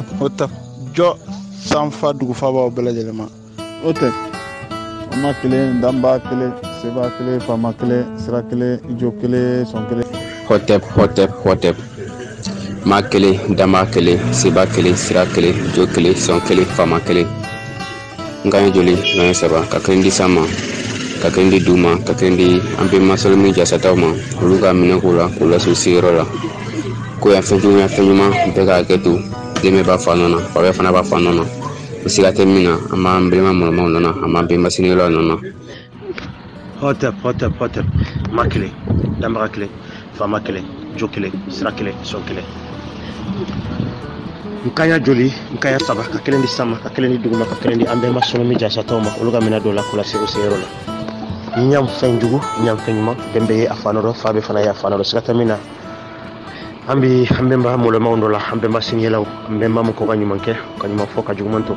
hɔtɛp jo sanfa dugufabaw bɛɛ lajɛlen ma hɔtɛp ma kelen danba kelen seba kelen faama kelen sira kelen jo kelen sɔn kelen hɔtɛp hɔtɛp hɔtɛp ma kelen danba kelen seba kelen sira kelen jo kelen sɔn kelen faama kelen n kan ye joli n kan ye saba ka kelen di san ma ka kelen di du ma ka kelen di an bɛma sɔli min jasataw ma olu ka minɛ k'o la k'o las'u seyɔrɔ la ko yan fɛn jugu yan fɛn ɲuman bɛɛ k'a kɛ to den bɛɛ b'a fa nɔ na fa bɛɛ fana b'a fa nɔ na o siga tɛ min na an b'an bɛnba mɔlɔmaw nɔ na an b'an bɛnba sinikɛlaw nɔ na hɔtɛp hɔtɛp hɔtɛp ma kelen danbaga kelen faama kelen jo kelen sira kelen sɔn kelen n kan ye joli n kan ye saba ka kelen di san ma ka kelen di dugu ma ka kelen di an bɛma sɔnɔ min jasataw ma olu ka minɛ dɔ la k'u lase o seyɔrɔ la ɲam fɛn jugu ɲam fɛn ɲuman den bɛɛ ye a fa nɔ dɔ fa bɛɛ fana ye a fa nɔ dɔ siga tɛ min na an bɛ an bɛnba mɔlɔmaw nɔ la an bɛnba siniyɛlaw an bɛnba mɔgɔw ka ɲuman kɛ ka ɲuman fɔ ka juguman to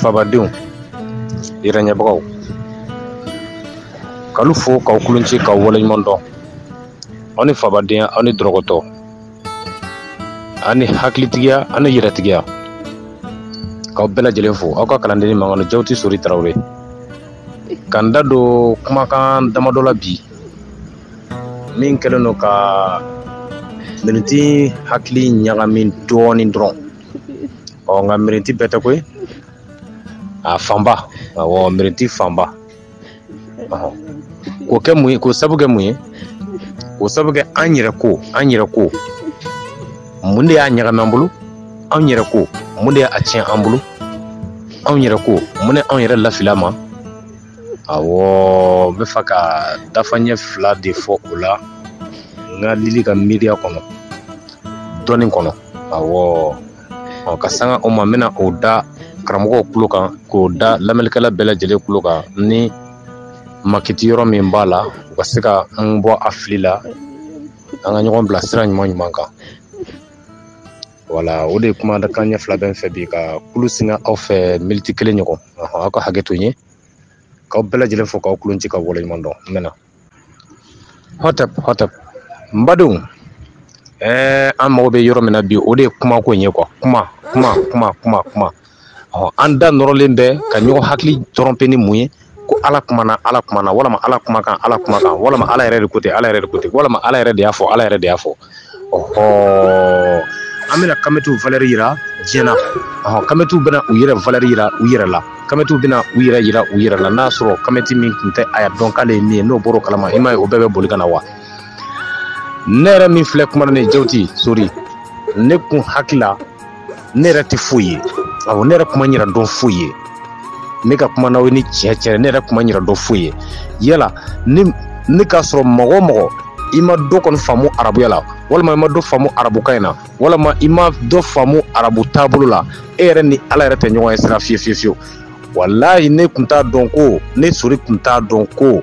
fabadenw yɛrɛɲɛbagaw k'alu fo k'aw kulonci k'aw waleɲuman dɔn aw ni fabadenya ani dɔrɔgɔtɔ ani hakilitigiya ani yɛrɛtigiya k'aw bɛɛ lajɛlen fo aw ka kalandennin mankanu jawuti sori tarawele ka n da don kumakan damadɔ la bi min kɛlen don ka miniti hakili ɲagami dɔɔnin dɔrɔn ɔ nka mirinti bɛɛ tɛ koyi a fanba awɔ mirinti fanba k'o kɛ mun ye k'o sabu kɛ mun ye k'o sabu kɛ an yɛrɛ ko an yɛrɛ ko mun de y'a ɲagami an bolo anw yɛrɛ ko mun de y'a tiɲɛ an bolo anw yɛrɛ ko mun de anw yɛrɛ lafili an ma awɔ n b'a fɛ ka dafaɲɛ fila de fɔ o la n kelennin ka miiriya kɔnɔ dɔnni kɔnɔ awɔ ɔ ka sanga o ma n bɛna o da karamɔgɔw tulo kan k'o da lamɛnnikɛla bɛɛ lajɛlen tulo kan ni makiti yɔrɔ min b'a la u ka se ka n bɔ a fili la an ka ɲɔgɔn bila sira ɲuman ɲuman kan wala o de kumakan ɲɛ fila bɛ n fɛ bi ka tulo singa aw fɛ miniti kelen ɲɔgɔn aw ka hakɛ to n ye k'aw bɛɛ lajɛlen fo k'aw kulonci ka waleɲuman dɔn n mɛna hɔtɛp hɔtɛp n badenw ɛɛ an mago bɛ yɔrɔ min na bi o de ye kumako in ye kuwa kuma kuma kuma kuma kuma ɔ an da nɔrɔlen bɛ ka ɲɔgɔn hakili trɔnpe ni mun ye ko ala kumana ala kumana walama ala kumakan ala kumakan walama ala yɛrɛ de ko ten ala yɛrɛ de ko ten walama ala yɛrɛ de y'a fɔ ala yɛrɛ de y'a fɔ ɔhɔɔ an bɛna kamɛtiw valɛri yira diɲɛ na ɔhɔn kamɛtiw bɛna u yɛrɛ valɛri yira u yɛrɛ la kamɛtiw bɛna u yɛrɛ yira u yɛrɛ la n'a sɔrɔ kamɛti min tun tɛ a y'a dɔn k'ale ye min ye n'o bɔr'o kalama i m'a ye o bɛɛ bɛ boli ka na wa ne yɛrɛ min filɛ kuma na ne jawuti sori ne kun hakili la ne yɛrɛ tɛ foyi ye awɔ ne yɛrɛ kun ma n yɛrɛ dɔn foyi ye ne ka kuma n'aw ye ni tiɲɛ tiɲɛ ne yɛrɛ kun ma n yɛrɛ dɔn foyi ye yala ne ne k'a sɔrɔ mɔgɔ o mɔgɔ i ma dɔ kɔni faamu arabuya la walama i ma dɔ faamu arabukan in na walama i ma dɔ faamu arabu taabolo la e yɛrɛ ni ala yɛrɛ tɛ ɲɔgɔn ye sira fiyewu fiyewu fiyewu walayi ne tun t'a dɔn ko ne sori tun t'a dɔn ko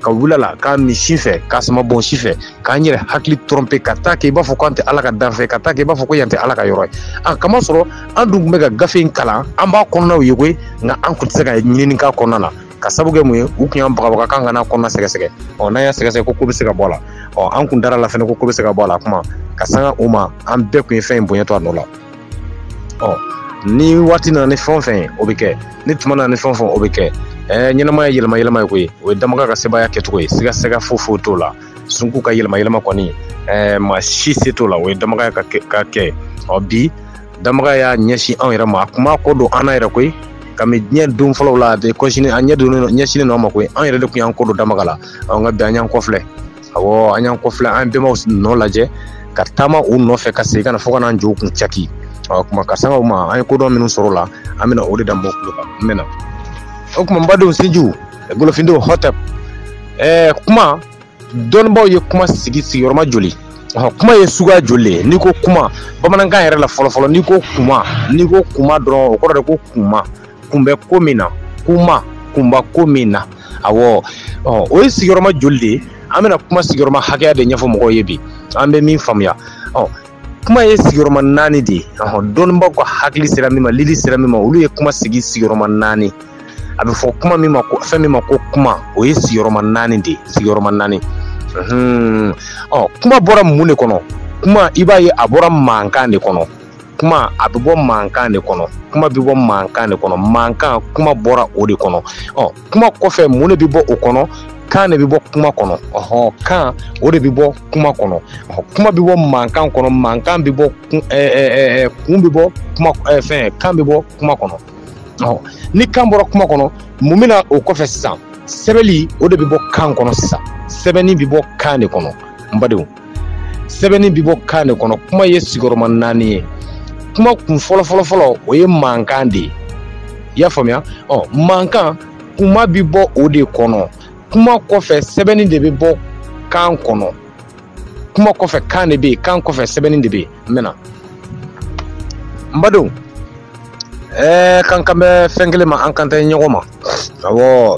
ka wula la k'a minɛ si fɛ k'a sama bonsi fɛ k'an yɛrɛ hakili trɔnpe ka t'a kɛ i b'a fɔ ko an tɛ ala ka danfɛn ka t'a kɛ i b'a fɔ ko yan tɛ ala ka yɔrɔ ye k'a masɔrɔ an dun tun bɛ ka gafe in kalan an b'a kɔnɔnaw ye koyi nka an tun tɛ se ka ɲinini k'a kɔnɔna na ka sabu kɛ mun ye u tun y'an bagabaga k'an kan'a kɔnɔna sɛgɛsɛgɛ ɔ n'an y'a sɛgɛsɛgɛ ko ko bɛ se ka bɔ a la ɔ an kun dar'a la fɛnɛ ko ko bɛ se ka bɔ a la kuma ka sanga o ma an bɛɛ kun ye fɛn in bonya to a nɔ la ɔ ni waati nana ni fɛn o fɛn ye o bɛ kɛ ni tuma nana ni fɛn o fɛn o bɛ kɛ ɛɛ ɲɛnamaya yɛlɛma yɛlɛma ye koyi o ye damaga ka sebaaya kɛcogo ye siga siga foyi foyi t'o la sunku ka yɛlɛma yɛlɛma kɔni ɛɛ maa si se t'o la o ye damaga ka kɛ ka kɛ ɔ bi damaga y'a ɲɛsin anw yɛrɛ ma a kun m'a kɔ don an na yɛrɛ koyi kami diɲɛ don fɔlɔw la a bɛ kɔsini a ɲɛ donnen ɲɛsinnen don an ma koyi an yɛrɛ de tun y'an kɔ don damaga la ɔ nka bi an y'an kɔfilɛ awɔ an y'an kɔfilɛ an bɛnbaw nɔ lajɛ ka taama u nɔfɛ ka segin ka na fo ka n'an jɔ u kun caki o kuma ka sanga u ma an ye kodɔn minnu sɔrɔ la an bɛna o de da mɔgɔw tulo kan n bɛna o kuma n badenw sinjiw golofindenw hɔtɛp ɛɛ kuma dɔnnibaaw ye kuma sigi sigiyɔrɔma joli kuma ye suguya joli le ye n'i ko kuma bamanankan yɛrɛ la fɔlɔfɔlɔ n'i ko kuma n'i ko kuma dɔrɔn o kɔrɔ de ko kuma kun bɛ ko min na kuma kun b'a ko min na awɔ ɔ o ye sigiyɔrɔma joli de ye an bɛna kuma sigiyɔrɔma hakɛya de ɲɛfɔ mɔgɔw ye bi an bɛ min faamuya ɔ kuma ye sigiyɔrɔma naani de ye ɔhɔn dɔnnibaaw ka hakili sera min ma lili sera min ma olu ye kuma sigi sigiyɔrɔma naani a bɛ fɔ kuma min ma ko fɛn min ma ko kuma o ye sigiyɔrɔma naani de ye sigiyɔrɔma naani ɔ kuma bɔra mun de kɔnɔ kuma i b'a ye a bɔra mankan de kɔnɔ kuma a bɛ bɔ mankan de kɔnɔ kuma bɛ bɔ mankan de kɔnɔ mankan kuma bɔra o de kɔnɔ ɔ kuma kɔfɛ mun de bɛ bɔ o kɔnɔ kan de bɛ bɔ kuma kɔnɔ ɔhɔn kan o de bɛ bɔ kuma kɔnɔ kuma bɛ bɔ mankan kɔnɔ mankan bɛ bɔ kun ɛɛ kun bɛ bɔ kuma ɛɛ fɛn kan bɛ bɔ kuma kɔnɔ ɔ ni kan bɔra kuma kɔnɔ mun bɛ na o kɔfɛ sisan sɛbɛnni o de bɛ bɔ kan kɔnɔ sisan sɛbɛnni bɛ bɔ kan de kɔnɔ n badenw sɛbɛnni bi bɔ kan de kɔnɔ kuma ye sigiyɔrɔma naani ye kuma kun fɔlɔ fɔlɔ fɔlɔ o ye mankan de ye i y'a faamuya ɔ mankan kuma bi bɔ o de kɔnɔ kuma kɔfɛ sɛbɛnni de bɛ bɔ kan kɔnɔ kuma kɔfɛ kan de bɛ yen kan kɔfɛ sɛbɛnni de bɛ yen n bɛna n badenw ɛɛ kan kan bɛ fɛn kelen ma an kan tɛ ɲɔgɔn ma awɔ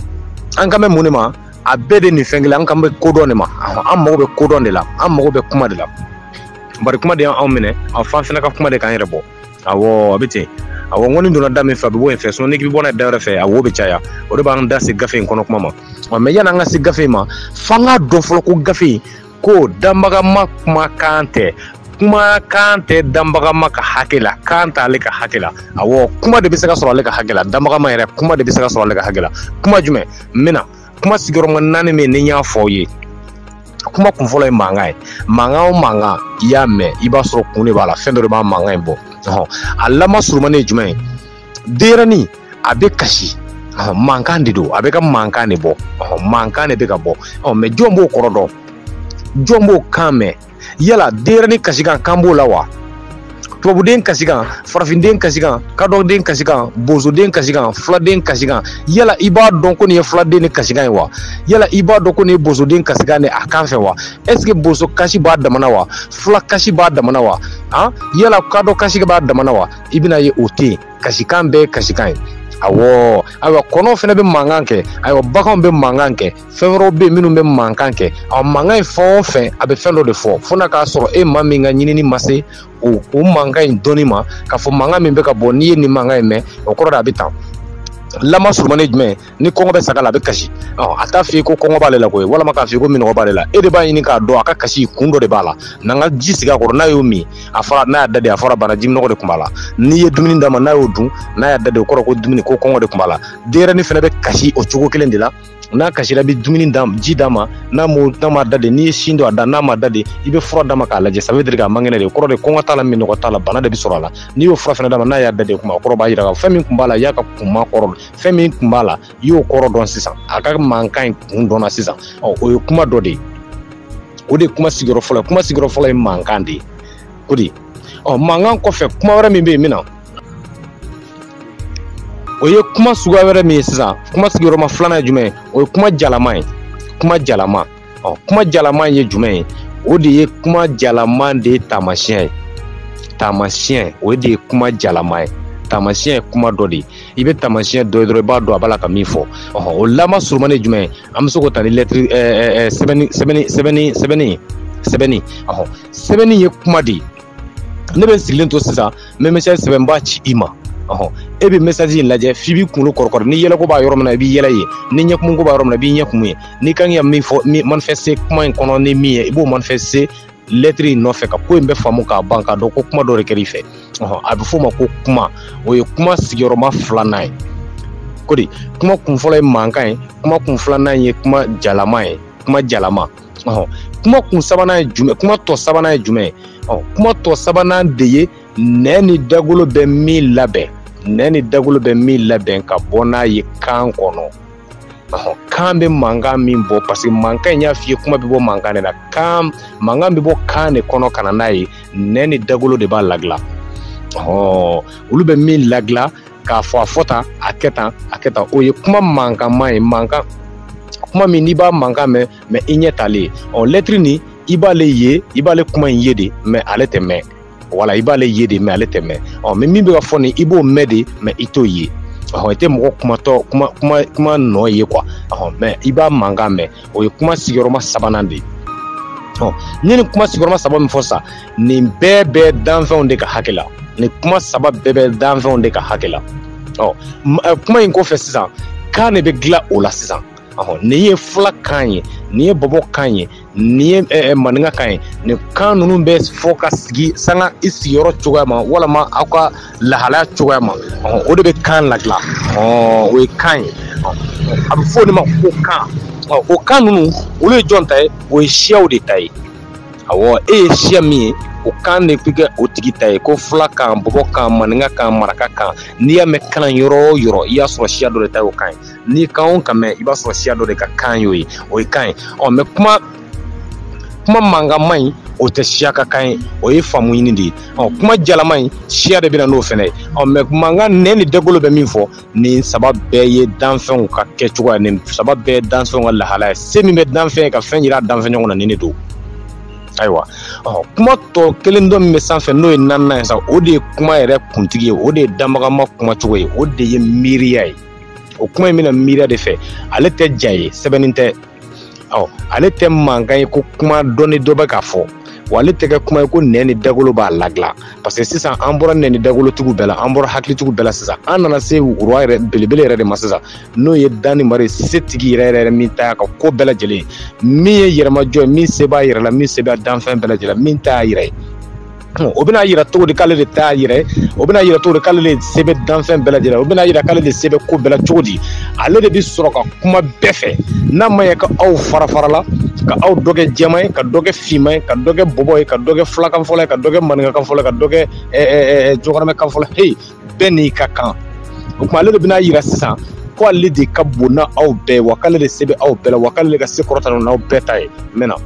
an kan bɛ mun de ma a bɛɛ de nin fɛn kelen an kan bɛ kodɔn de ma an mago bɛ kodɔn de la an mago bɛ kuma de la bari kuma de y'anw minɛ f'an fana ka kuma de k'an yɛrɛ bɔ awɔ a bɛ ten awɔ n ko ni donna da min fɛ a bɛ bɔ yen fɛ sinɔn n'i k'i bɔ n'a ye da wɛrɛ fɛ a wo bɛ caya o de b'an da se gafe in kɔnɔ kuma ma mɛ yan'an ka se gafe in ma f'an k'a dɔn fɔlɔ ko gafe in ko danbagama kuma kan tɛ kuma kan tɛ danbagama ka hakɛ la kan t'ale ka hakɛ la awɔ kuma de bɛ se ka sɔrɔ ale ka hakɛ la danbagama yɛrɛ kuma de bɛ se ka sɔrɔ ale ka hakɛ la kuma jumɛn n bɛna kuma sigiyɔrɔma naani min ni n y'a fɔ aw ye kuma kun fɔlɔ ye mankan ye mankan o mankan i y'a mɛn i b'a sɔrɔ kun de b'a la fɛn dɔ de b'a mankan in bɔ a lama surumani ye jumɛn ye denyɛrɛnin a bɛ kasi ɔhɔn mankan de don a bɛ ka mankan de bɔ ɔhɔn mankan de bɛ ka bɔ ɔhɔn mɛ jɔn b'o kɔrɔ dɔn jɔn b'o kan mɛn yala denyɛrɛnin kasikan kan b'o la wa tubabuden kasikan farafinden kasikan kadɔden kasikan bozoden kasikan fuladen kasikan yala i b'a dɔn ko nin ye fuladennin kasikan ye wa yala i b'a dɔn ko nin ye bozoden kasikan de a kan fɛ wa ɛseke bozo kasi b'a dama na wa fula kasi b'a dama na wa han yala kadɔ kasi b'a dama na wa i bɛn'a ye o tɛ yen kasikan bɛɛ ye kasikan ye awɔ ayiwa kɔnɔw fana bɛ mankan kɛ ayiwa baganw bɛ mankan kɛ fɛn wɛrɛw bɛ yen minnu bɛ mankan kɛ a mankan in fɛn o fɛn a bɛ fɛn dɔ de fɔ fo n'a k'a sɔrɔ e maa min ka ɲinini ma se o o mankan in dɔnni ma k'a fɔ mankan min bɛ ka bɔ n'i ye nin mankan in mɛn o kɔrɔ de a bɛ tan lama surumani jumɛn ni kɔngɔ bɛ saga la a bɛ kasi a t'a f'i ye ko kɔngɔ b'ale la koyi walama k'a f'i ko minɔgɔ b'ale la e de b'a ɲini k'a dɔn a ka kasi kun dɔ de b'a la n'an ka ji sigi a kɔrɔ n'a y'o min a fɔra n'a y'a da de a fɔra banna jiminɔgɔ de tun b'a la n'i ye dumuni d'a ma n'a y'o dun n'a y'a da de o kɔrɔ ko dumuni ko kɔngɔ de tun b'a la denyɛrɛnin fana bɛ kasi o cogo kelen de la n'a kasira i bɛ dumuni d'a ji d'a ma n'a m'o n'a ma da de n'i ye sin don a da n'a ma da de i bɛ fura d'a ma k'a lajɛ ça veut dire k'a man kɛnɛ de o kɔrɔ de kɔngɔ t'a la minɔgɔ t'a la bana de bɛ sɔrɔ a la n'i y'o fura fana d'a ma n'a y'a da de kuma o kɔrɔ b'a jira k'a fɔ fɛn min tun b'a la i y'a ka kuma kɔrɔ fɛn min tun b'a la i y'o kɔrɔ dɔn sisan a ka mankan in kun dɔnna sisan ɔ o ye kuma dɔ de ye o de ye kuma sigiyɔrɔ fɔlɔ ye kuma sigiyɔrɔ fɔlɔ ye mankan de ye o de ye ɔ mankan kɔfɛ kuma wɛrɛ min bɛ yen min na o ye kuma suguya wɛrɛ min ye sisan kuma sigiyɔrɔma filanan ye jumɛn ye o ye kuma jalama ye kuma jalama ɔ kuma jalama ye jumɛn ye o de ye kuma jalama de ye taamasiyɛn ye taamasiyɛn o de ye kuma jalama ye taamasiyɛn ye kuma dɔ de ye i bɛ taamasiyɛn dɔ ye dɔrɔn i b'a dɔn a b'a la ka min fɔ ɔhɔn o lama surumani ye jumɛn ye an bɛ se k'o ta ni lɛtiri ɛɛ sɛbɛnni sɛbɛnni sɛbɛnni sɛbɛnni sɛbɛnni ɔhɔn sɛbɛnni ye kuma de ye ne bɛ sigilen to sisan n bɛ message sɛbɛn n b'a ci i ma ɔhɔn e bɛ message in lajɛ f'i b'i kunkolo kɔrɔkɔrɔ ni yɛlɛko b'a yɔrɔ min na i b'i yɛlɛ yen ni ɲɛkumuko b'a yɔrɔ min na i b'i ɲɛkumu yen i kan ka min fɔ min manifeste kuma in kɔnɔ ni min ye i b'o manifeste lɛtiri in nɔfɛ ka ko in bɛɛ faamu k'a ban k'a dɔn ko kuma dɔ de kɛra i fɛ ɔhɔn a bɛ f'o ma ko kuma o ye kuma sigiyɔrɔma filanan ye ko di kuma kun fɔlɔ ye mankan ye kuma kun filanan ye kuma jalama ye kuma jalama ɔ kuma kun sabanan ye jumɛn kuma tɔ sabanan ye jumɛn ye ɔ kuma tɔ sabanan de ye nɛn ni dagolo bɛ min labɛn nɛn ni dagolo bɛ min labɛn ka bɔ n'a ye kan kɔnɔ ɔ kan bɛ mankan min bɔ parce que mankan in y'a f'i ye kuma bɛ bɔ mankan de la kan mankan bɛ bɔ kan de kɔnɔ ka na n'a ye nɛn ni dagolo de b'a ladilan ɔ olu bɛ min ladilan k'a fɔ a fɔ tan a kɛ tan a kɛ tan o ye kuma mankanma ye mankan kuma min n'i b'a mankan mɛn mɛ i ɲɛ t'ale ye ɔ lɛtiri nin i b'ale ye i b'ale kuma in ye de mɛ ale tɛ mɛn wala i b'ale ye de mɛ ale tɛ mɛn ɔ mɛ min bɛ ka fɔ nin i b'o mɛn de mɛ i t'o ye ɔhɔn i tɛ mɔgɔ kumatɔ kuma nɔ ye quoi ɔhɔn mɛ i b'a mankan mɛn o ye kuma sigiyɔrɔma sabanan de ye ɔ n ye nin kuma sigiyɔrɔma saba min fɔ sa nin bɛɛ bɛ danfɛnw de ka hakɛ la nin kuma saba bɛɛ bɛ danfɛnw de ka hakɛ la ɔ kuma in kɔfɛ sisan kan de bɛ dilan o la sisan nin ye fula kan ye nin ye bɔbɔ kan ye nin ye eh, eh, maninka kan ye nin kan ninnu bɛ fɔ ka sigi sanga i sigiyɔrɔ cogoya ma walima aw ka lahalaya cogoya ma o de bɛ kan ladilan o ye kan ye a bɛ fɔ o de ma ko kan o kan ninnu olu ye jɔn ta ye o ye siyaw de ta ye awɔ e ye siya min ye o kan de bɛ kɛ o tigi ta ye ko fula kan bɔbɔ kan maninka kan maraka kan n'i y'a mɛn kalan yɔrɔ o yɔrɔ i y'a sɔrɔ siya dɔ de ta ye o kan ye n'i kan o kan mɛn i b'a sɔrɔ siya dɔ de ka kan y'o ye o ye kan ye ɔ mɛ kuma kuma mankanma in o tɛ siya ka kan ye o ye faamu ɲini de ye ɔ kuma jalama in siya de bɛ na n'o fɛnɛ ye ɔ mɛ mankan nɛn ni dagolo bɛ min fɔ nin saba bɛɛ ye danfɛnw ka kɛ cogoya nin saba bɛɛ ye danfɛnw ka lahala ye se min bɛ danfɛn ye ka fɛn yira danfɛn ɲɔgɔn na nin de don ayiwa ɔ kuma tɔ kelen dɔ min bɛ sanfɛ n'o ye naaninan ye sa o de ye kuma yɛrɛ kuntigi ye o de ye danbaga ma kuma cogo ye o de ye miiriya ye o kuma in bɛ na miiriya de fɛ ale tɛ ja ye sɛbɛnni tɛ ɔ ale tɛ mankan ye ko kuma dɔ ni dɔ bɛ ka fɔ wa ale tɛ kɛ kuma ye ko nɛn ni dagolo b'a ladilan parce que sisan an bɔra nɛn ni dagolotigiw bɛɛ la an bɔra hakilitigiw bɛɛ la sisan an nana se wura yɛrɛ belebele yɛrɛ de ma sisan n'o ye danni mari setigi yɛrɛ yɛrɛ min ta y'a ka ko bɛɛ lajɛlen ye min ye yɛrɛmajɔ ye min se b'a yɛrɛ la min se b'a danfɛn bɛɛ lajɛlen na min ta y'a yɛrɛ ye o bɛna yira cogo di k'ale de t'a yɛrɛ o bɛna yira cogo di k'ale de se bɛ danfɛn bɛɛ lajɛlen o bɛna yira k'ale de se bɛ ko bɛɛ la cogo di ale de bɛ sɔrɔ ka kuma bɛɛ fɛ n'a ma ɲɛ ka aw fara fara la ka aw dɔ kɛ jɛman ye ka dɔ kɛ finman ye ka dɔ kɛ bɔbɔ ye ka dɔ kɛ fulakan fɔla ye ka dɔ kɛ maninkakan fɔla ye ka dɔ kɛ jɔgɔramɛkan fɔla heyi bɛɛ n'i ka kan o tuma ale de bɛna yira sisan ko ale de ka bon n'aw bɛɛ ye wa k'ale de se bɛ aw bɛɛ la wa k'ale de ka se kɔrɔta n'aw bɛɛ ta ye mɛ non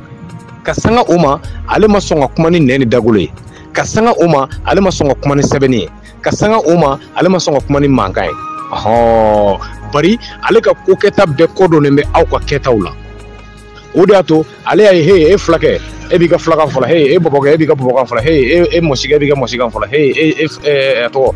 ka sanga o ma ale ma sɔn ka kuma ni nɛn ni dagolo ye ka sanga o ma ale ma sɔn ka kuma ni sɛbɛnni ye ka sanga o ma ale ma sɔn ka kuma ni mankan ye ɔhɔn bari ale ka ko kɛta bɛɛ kɔdonnen bɛ aw ka kɛtaw la o de y'a to ale y'a ye he e fulakɛ e b'i ka fulakan fɔ la he e bɔbɔkɛ e b'i ka bɔbɔkan fɔ la he e, e mɔsikɛ e b'i ka mɔsikan fɔ la he e, e, e, e tɔgɔ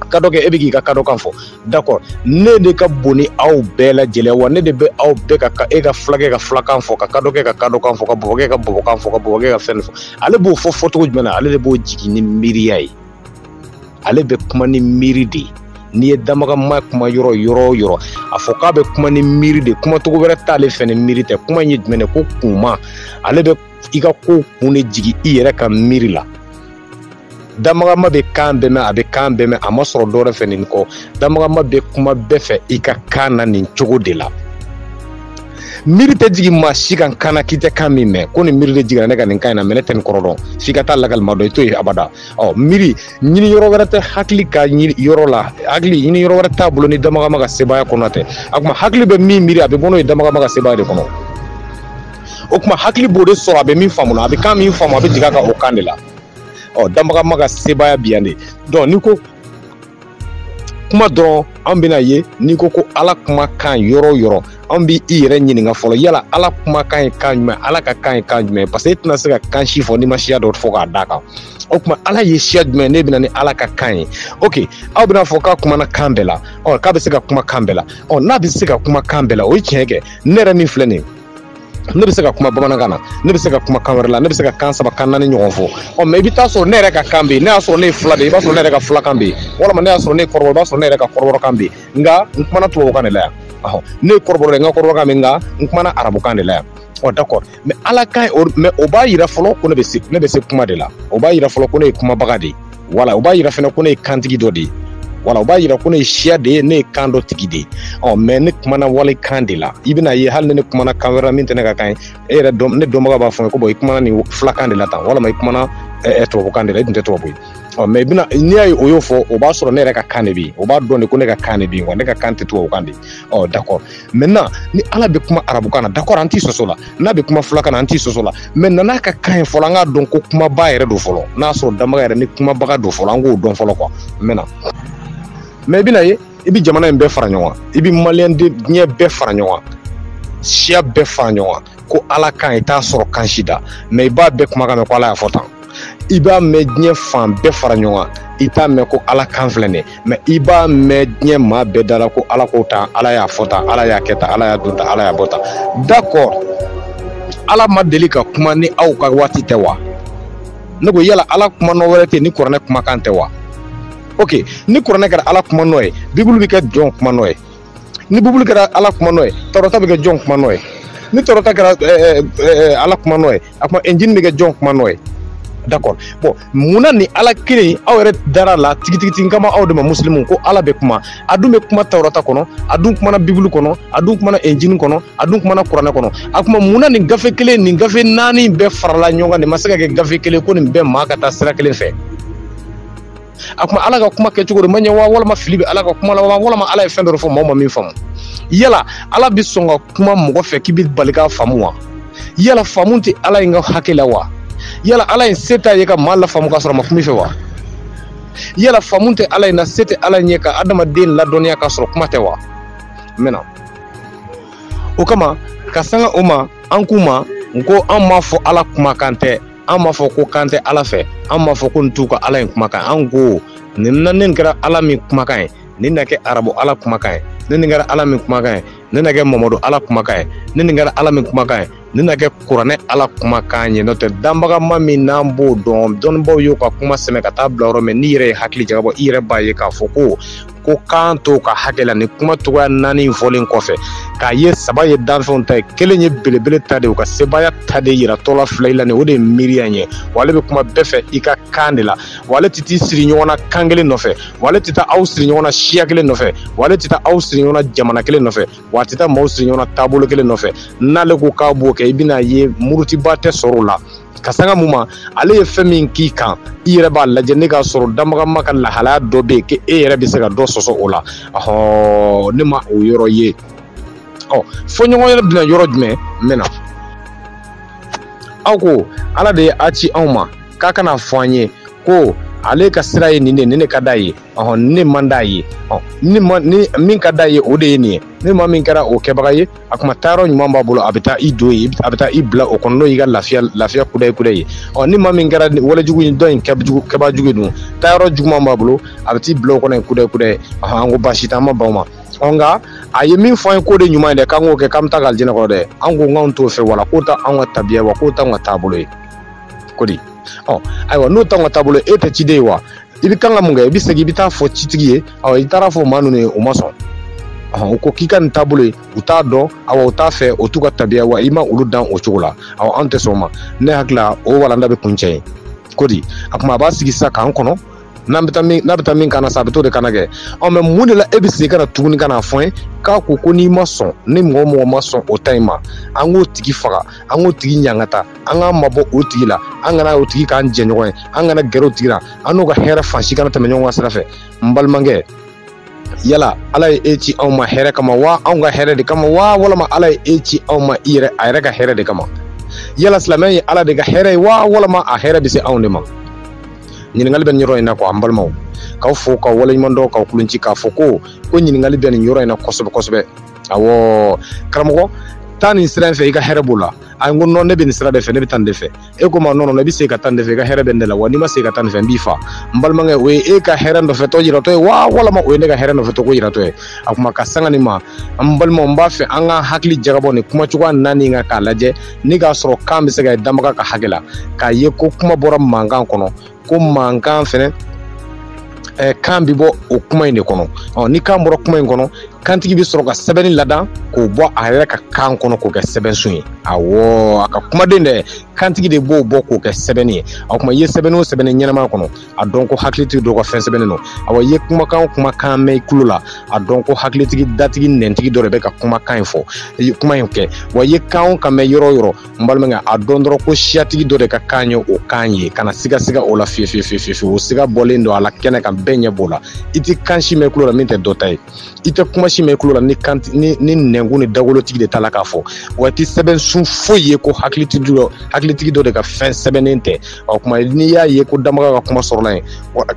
kadɔkɛ e bɛ k'i ka kadɔkan fɔ d'accord ne de ka bon ni aw bɛɛ lajɛlen ye wa ne de bɛ aw bɛɛ ka e ka fulakɛ ka fulakan fɔ ka kadɔkɛ ka kadɔkan fɔ ka bɔbɔkɛ ka bɔbɔkan fɔ ka bɔbɔkɛ ka fɛn fɔ ale b'o fɔ fɔcogo jumɛn na ale de b'o jigin ni miiriya ye ale bɛ kuma ni miiri de ye n'i ye dabagama kuma yɔrɔ yɔrɔ o yɔrɔ a fɔ k'a bɛ kuma ni miiri de kuma cogo wɛrɛ t'ale fɛ ni miiri tɛ kuma in ye jumɛn de ko kunma ale bɛ i ka ko kun de jigin i yɛrɛ ka miiri la dabagama bɛ kan bɛɛ mɛn a bɛ kan bɛɛ mɛn a ma sɔrɔ dɔwɛrɛ fɛ nin kɔ dabagama bɛ kuma bɛɛ fɛ i ka kan na nin cogo de la miiri tɛ jigin maa si kan kan na k'i tɛ kan min mɛn ko nin miiri de jiginna ne ka nin kan in na mɛ ne tɛ nin kɔrɔ dɔn f'i ka taa lakalima dɔn i t'o ye abada ɔ miiri ɲiniyɔrɔ wɛrɛ tɛ hakili ka yɔrɔ la hakili ɲiniyɔrɔ wɛrɛ t'a bolo ni dabagama ka sebaaya kɔnɔna tɛ a kuma hakili bɛ min miiri a bɛ bɔ n'o ye dabagama ka sebaaya de kɔnɔ o kuma hakili b'o de sɔrɔ a bɛ min faamu a bɛ kan min faamu a bɛ jigin a kan o kan de la ɔ dabagama ka sebaaya bi yan de donc n'i ko kuma dɔrɔn an bɛn'a ye n'i ko ko ala kumakan yɔrɔ o yɔrɔ an bɛ i yɛrɛ ɲininka fɔlɔ yala ala kumakan ye kan jumɛn ala ka kan ye kan jumɛn parce que e tɛna se ka kan si fɔ n'i ma siya dɔ fɔ k'a d'a kan o tuma ala ye siya jumɛn ne bɛna ni ala ka kan ye ok aw bɛn'a fɔ k'a kumana kan bɛɛ la ɔ k'a bɛ se ka kuma kan bɛɛ la ɔ n'a bɛ se ka kuma kan bɛɛ la o ye tiɲɛ kɛ ne yɛrɛ min filɛ nin ye ne bɛ se ka kuma bamanankan na ne bɛ se ka kuma kan wɛrɛ la ne bɛ se ka kan saba kan naani ɲɔgɔn fɔ ɔ mɛ i bɛ taa sɔrɔ ne yɛrɛ ka kan bɛ yen n'i y'a sɔrɔ ne ye fila de ye i b'a sɔrɔ ne yɛrɛ ka filakan bɛ yen walima n'i y'a sɔrɔ ne ye kɔrɔbɔrɔ i b'a sɔrɔ ne yɛrɛ ka kɔrɔbɔrɔkan bɛ yen nka n kumana tubabukan de la yan ɔhɔn ne ye kɔrɔbɔrɔ ye n ka kɔrɔbɔrɔkan bɛ yen nka n kumana arabukan de la yan ɔ d'accord mɛ ala ka ɲi o mɛ o b'a yira fɔlɔ ko ne bɛ se ne bɛ se kuma de la o b'a yira fɔlɔ ko ne ye kumabaga de ye wala u b'a yira fana ko ne ye kantigi dɔ de ye wala u b'a yira ko ne ye siya de ye ne ye kan dɔ tigi de ye ɔ mɛ ne kumana wale kan de la i bɛna ye hali ni ne kumana kan wɛrɛ min tɛ ne ka kan ye e yɛrɛ dɔn ne dɔnbaga b'a fɔ n ye ko bɔn i kumana nin filakan de la tan walama i kumana tubabukan de la i dun tɛ tubabu ye ɔ mɛ bɛna n'i y'a ye o y'o fɔ o b'a sɔrɔ ne yɛrɛ ka kan de bɛ yen o b'a dɔn de ko ne ka kan de bɛ yen wa ne ka kan tɛ tubabukan de ye ɔ dakɔ maintenant ni ala bɛ kuma arabukan na d'accord an t'i sɔsɔ a la n'a bɛ kuma fulakan na an t'i sɔsɔ a la maintenant a ka kan ye fɔlɔ an k'a dɔn ko kumabaa yɛrɛ don fɔlɔ n'a sɔrɔ danbaga yɛrɛ ni kumabaga don fɔlɔ an k'o dɔn fɔlɔ quoi maintenant mɛ i bɛna ye i bɛ jamana in bɛɛ fara ɲɔgɔn kan i bɛ maliyɛn diɲɛ bɛɛ fara ɲɔgɔn kan siya bɛɛ fara ɲɔgɔn kan ko ala kan i t'a sɔrɔ kan si da mɛ i b'a bɛɛ kumakan mɛn ko ala y'a fɔ tan i b'a mɛn diɲɛ fan bɛɛ fara ɲɔgɔn kan i t'a mɛn ko ala kan filɛ nin mɛ i b'a mɛn diɲɛ maa bɛɛ da la ko ala k'o tan ala y'a fɔ tan ala y'a kɛ tan ala y'a don tan ala y'a bɔ tan d'accord ala ma deli ka kuma ni aw ka waati tɛ wa ne ko yala ala kuma nɔ wɛrɛ tɛ ni kuranɛ kumakan tɛ wa ok ni kuranɛ kɛra ala kuma nɔ ye bibulu bɛ kɛ jɔn kuma nɔ ye ni bibulu kɛra ala kuma nɔ ye tawurata bɛ kɛ jɔn kuma nɔ ye ni tawurata kɛra eh, eh, ala kuma nɔ ye a kuma injili bɛ kɛ jɔn kuma nɔ ye d'accord bon mun na ni ala kelen aw yɛrɛ dara a la tigitigitigi kama aw de ma musilimu ko ala bɛ kuma a dun bɛ kuma tawurata kɔnɔ a dun kumana bibulu kɔnɔ a dun kumana injili kɔnɔ a dun kumana kuranɛ kɔnɔ a kuma mun na nin gafe kelen nin gafe naani bɛɛ farala ɲɔgɔn kan nin ma se ka kɛ gafe kelen ko nin bɛɛ maa ka taa sira kelen fɛ a kuma ala ka kuma kɛcogo de ma ɲɛ wa walima fili bɛ ala ka kuma la walima ala ye fɛn dɔ fɔ maaw ma min faamu yala ala bɛ sɔn ka kuma mɔgɔ fɛ k'i bɛ bali k'a faamu wa yala faamu tɛ ala in ka hakɛ la wa yala ala in se t'a ye ka maa lafaamu k'a sɔrɔ a ma kuma i fɛ wa yala faamu tɛ ala in na se tɛ ala in ye ka adamaden ladɔnniya k'a sɔrɔ kuma tɛ wa maintenant o kama ka sanga o ma an k'u ma n ko an m'a fɔ ala kumakan tɛ an m'a fɔ ko kan tɛ ala fɛ an m'a fɔ ko nin t'u ka ala in kumakan ye an ko nin na ni nin kɛra ala min kumakan ye nin na kɛ arabu ala kumakan ye ni nin kɛra ala min kumakan ye nin na kɛ mamadu ala kumakan ye ni nin kɛra ala min kumakan ye nin na kɛ kuranɛ ala kumakan ye n'o tɛ danbagama min n'an b'o dɔn dɔnnibaaw y'o ka kuma sɛmɛ ka taa bila yɔrɔ min n'i yɛrɛ ye hakili jagabɔ i yɛrɛ b'a ye k'a fɔ ko ko kan t'o ka hakɛ la nin kuma cogoya naani fɔlen kɔfɛ k'a ye saba ye danfɛnw ta ye kelen ye belebele ta de u ka sebaaya ta de yira tɔla fila la ni o de ye miiriya ɲɛ wa ale bɛ kuma bɛɛ fɛ i ka kan de la wa ale tɛ t'i siri ɲɔgɔn na kan kelen nɔfɛ wa ale tɛ taa aw siri ɲɔgɔn na siya kelen nɔfɛ wa ale tɛ taa aw siri ɲɔgɔn na jamana kelen nɔfɛ wa a tɛ taa maaw siri ɲɔgɔn na taabolo kelen nɔfɛ n'ale ko k'a b'o kɛ i bɛna ye murutibaa tɛ sɔrɔ o la ka sanga mun ma ale ye fɛn min k'i kan i yɛrɛ b'a lajɛ ni k'a sɔrɔ danbaga ma ka lahalaya dɔ bɛ yen k'e yɛrɛ bɛ se ka dɔ sɔsɔ o la ɔhɔn ne ma o yɔrɔ ye ɔ fɔɲɔgɔn yɛrɛ bɛna yɔrɔ jumɛn n bɛna aw ko ala de ye a ci anw ma k'a ka n'a fɔ an ye ko ale ka sira ye nin de nin de ka d'a ye ɔhɔn nin man d'a ye ɔ ni ma ni min ka d'a ye o de ye nin ye ni maa min kɛra o kɛbaga ye a kuma taayɔrɔ ɲuman b'a bolo a bɛ taa i don yen a bɛ taa i bila o kɔnɔ n'o y'i ka lafiya lafiya kudayi kudayi ɔ ni maa min kɛra walejugu in dɔ in kɛjugu kɛbaa jugu dun taayɔrɔ juguman b'a bolo a bɛ t'i bila o kɔnɔ yen kudayi kudayi ɔhɔn an ko baasi t'an ma ban ma ɔ nka a ye min fɔ an ye k'o de ɲuman ye dɛ k'an k'o kɛ k'an bɛ taa ka alijinɛ sɔrɔ dɛ an ko k'anw t'o fɛ wala k'o t'an ka tabiya wa k'o t'an ka taabolo ye ko di ɔ ayiwa n'o t'an ka taabolo ye e tɛ ciden ye wa i bɛ kan ka mun kɛ i bɛ segin i bɛ taa fɔ citigi ye awɔ i taara fɔ maa ninnu ye u ma sɔn u ko k'i ka nin taabolo ye u t'a dɔn awa u t'a fɛ o t'u ka tabiya wa i ma olu dan o cogo la awa an tɛ sɔn ma ne hakili la o walanda bɛ kuncɛ yen ko di a kuma a b'a sigi sisan k'an kɔnɔ n'an bɛ taa min n'a bɛ taa min k'an na sa a bɛ t'o de k'an na kɛ ɔ mɛ mun de la e bɛ segin ka na tuguni ka na fɔ n ye k'a ko ko n'i ma sɔn ni mɔgɔ mɔgɔ ma sɔn o ta in ma an k'o tigi faga an k'o tigi ɲangata an k'an mabɔ o tigi la an kana o tigi k'an jɛɲɔgɔn ye an kana gɛrɛ o tigi la an n'o ka hɛrɛ fan si kana tɛmɛ ɲɔgɔn ka sira fɛ n balimakɛ yala ala ye e ci anw ma hɛrɛ kama wa anw ka hɛrɛ de kama wa walama ala ye e ci anw ma i yɛrɛ a yɛrɛ ka hɛrɛ de kama yala silamɛya ye ala de ka hɛrɛ ye wa walama a hɛrɛ bɛ se anw de ma ɲininkali bɛ nin yɔrɔ in na kuwa an balimaw k'aw fo k'aw waleɲuman dɔn k'aw kulonci k'a fɔ ko ko ɲininkali bɛ nin yɔrɔ in na kosɛbɛ kosɛbɛ awɔ karamɔgɔ taa nin sira in fɛ i ka hɛrɛ b'o la a ko nɔn ne bɛ nin sira de fɛ ne bɛ taa nin de fɛ e ko ma nɔn nɔn i bɛ se ka taa nin de fɛ i ka hɛrɛ bɛ nin de la wa n'i ma se ka taa nin fɛ n b'i fa n balimakɛ o ye e ka hɛrɛ nɔfɛtɔ yiratɔ ye wa walama o ye ne ka hɛrɛ nɔfɛtɔ ko yiratɔ ye a kuma ka sanga nin ma an balimaw n b'a fɛ an ka hakili jagabɔ nin kuma cogoya naani kan k'a lajɛ ni k'a sɔrɔ k'an bɛ se k'a ye danbaga ka hakɛ la k'a ye ko kuma bɔra mankan kɔnɔ ko mankan fɛnɛ eh, kan bɛ bɔ o kuma in de kɔnɔ ɔ ni kan bɔra kuma in kɔnɔ kantigi bɛ sɔrɔ ka sɛbɛnni ladan k'o bɔ a yɛrɛ ka kan kɔnɔ k'o kɛ sɛbɛnsun ye awɔ a ka kumaden dɛ kantigi de b'o bɔ k'o kɛ sɛbɛnni ye o tuma i ye sɛbɛnni o sɛbɛnni ɲɛnama kɔnɔ a dɔn ko hakilitigi dɔ ka fɛn sɛbɛnnen don awɔ i ye kumakan o kumakan mɛn i tulo la a dɔn ko hakilitigi datigi nɛntigi dɔ de bɛ ka kumakan in fɔ kuma in kɛ wa i ye kan o kan mɛn yɔrɔ o yɔrɔ n balimakɛ a dɔn dɔrɔn ko siyatigi dɔ de ka kan ye o kan ye kana sigasiga o la fiyefiyefiyefiyefye o siga bɔlen don a la kɛnɛ kan bɛɛ ɲɛ b'o la i tɛ kan si mɛn kulo la min tɛ dɔ ta ye i tɛ kuma si mɛn kulo la ni kan ni ni nɛnkun ni dagolotigi de ta la k'a fɔ wa i tɛ sɛbɛnsun foyi ye ko hakilitigi dɔ hakilitigi dɔ de ka fɛn sɛbɛnnen tɛ ɔ kuma n'i y'a ye ko danbaga ka kuma sɔrɔla yen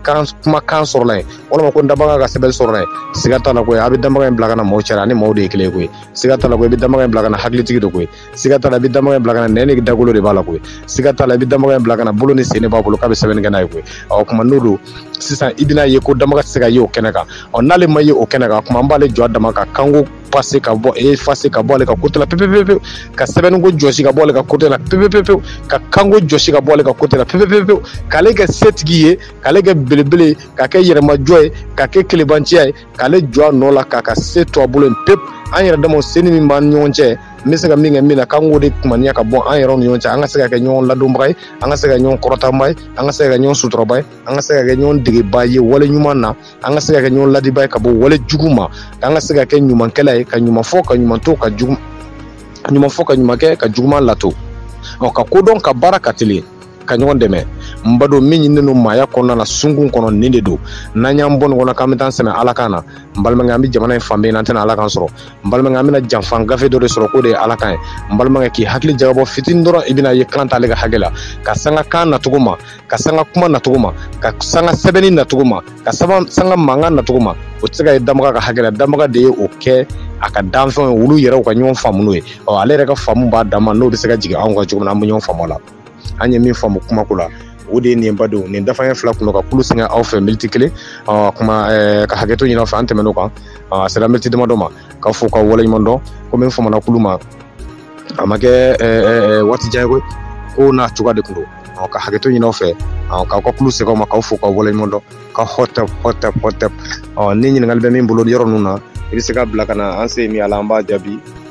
kan kuma kan sɔrɔla yen walima ko danbaga ka sɛbɛn sɔrɔla yen siga t'a la koyi a bɛ danbaga in bila ka na mɔgɔ cɛla a ni mɔgɔw de ye kelen ye koyi siga t'a la koyi i bɛ danbaga in bila ka na hakilitigi de koyi siga t'a la i bɛ damaga in bila ka na nɛn ni dagolo de b'a la koyi siga t'a la i bɛ damaga in bila ka na bolo ni sen de b'a bolo k'a bɛ sɛbɛnni kɛ n'a ye koyi ɔ kuma n'o don sisan i bɛna ye ko damaga tɛ se ka ye o kɛnɛ kan ɔ n'ale ma ye o kɛnɛ kan kuma an b'ale jɔ a dama ka kanko pase ka bɔ efase ka bɔ ale ka kote la pepepepewu ka sɛbɛnniko jɔsi ka bɔ ale ka kote la pepepepewu ka kanko jɔsi ka bɔ ale ka kote la pepepepewu k'ale kɛ setigi ye k'ale kɛ belebele ye k'a kɛ yɛrɛmajɔ ye k'a kɛ kelebanciya ye k'ale jɔ a nɔ la k'a ka se to a bolo yen pepu an yɛrɛ damaw seni min b'an ɲɔgɔn cɛ n bɛ se ka min kɛ min na k'an k'o de kumaniya ka bɔ an yɛrɛw ni ɲɔgɔn cɛ an ka se ka kɛ ɲɔgɔn ladonbaga ye an ka se ka kɛ ɲɔgɔn kɔrɔtaba ye an ka se ka kɛ ɲɔgɔn suturaba ye an ka se ka kɛ ɲɔgɔn degeba ye wale ɲuman na an ka se ka kɛ ɲɔgɔn ladiba ye ka bɔ wale jugu ma k'an ka se ka kɛ ɲumankɛla ye ka ɲuman fɔ ka ɲuman to ka jugu ɲuman fɔ ka ɲuman kɛ ka juguman lato ɔ ka kodɔn ka baara ka teli ka ɲɔgɔn dɛmɛ n ba don min ɲininen don maaya kɔnɔna na sunkun kɔnɔ nin de don n'an y'an bɔ nin kɔnɔ k'an bɛ taa sɛmɛ ala kan na n balimakɛ an bɛ jamana in fan bɛɛ an tɛna ala kan sɔrɔ n balimakɛ an bɛna janfa gafe dɔ de sɔrɔ k'o de ye ala kan ye n balimakɛ k'i hakili jagabɔ fitini dɔrɔn i bɛna ye kan t'ale ka hakɛ la ka sanga kan nacogo ma ka sanga kuma nacogo ma ka sanga sɛbɛnni nacogo ma ka sanga mankan nacogo ma o tɛ se ka ye damaga ka hakɛ la damaga de ye o kɛ a ka danfɛnw ye olu yɛrɛw ka ɲɔgɔn faamu n'o ye ɔ ale yɛrɛ ka faamu b'a dama n'o bɛ se ka jigin anw kan cogo min na an bɛ ɲɔgɔn faamu a la an ye min faamu kumako la o de ye nin ba don nin dafa fila kun ka kulu sɛgɛn aw fɛ miniti kelen kuma ka hakɛto ɲini aw fɛ an tɛmɛn'o kan a sera miniti damadɔ ma k'aw fo ka waleɲuman dɔn komi n famana kulu ma a ma kɛ waati jan ye koyi ko nacogoya de kun don ka hakɛto ɲini aw fɛ k'aw ka kulu sɛgɛn ma k'aw fo ka waleɲuman dɔn ka hɔtɛp hɔtɛp hɔtɛp ni ɲininkali bɛ min bolo yɔrɔ ninnu na i bɛ se k'a bila ka na an se min a la an b'a jaabi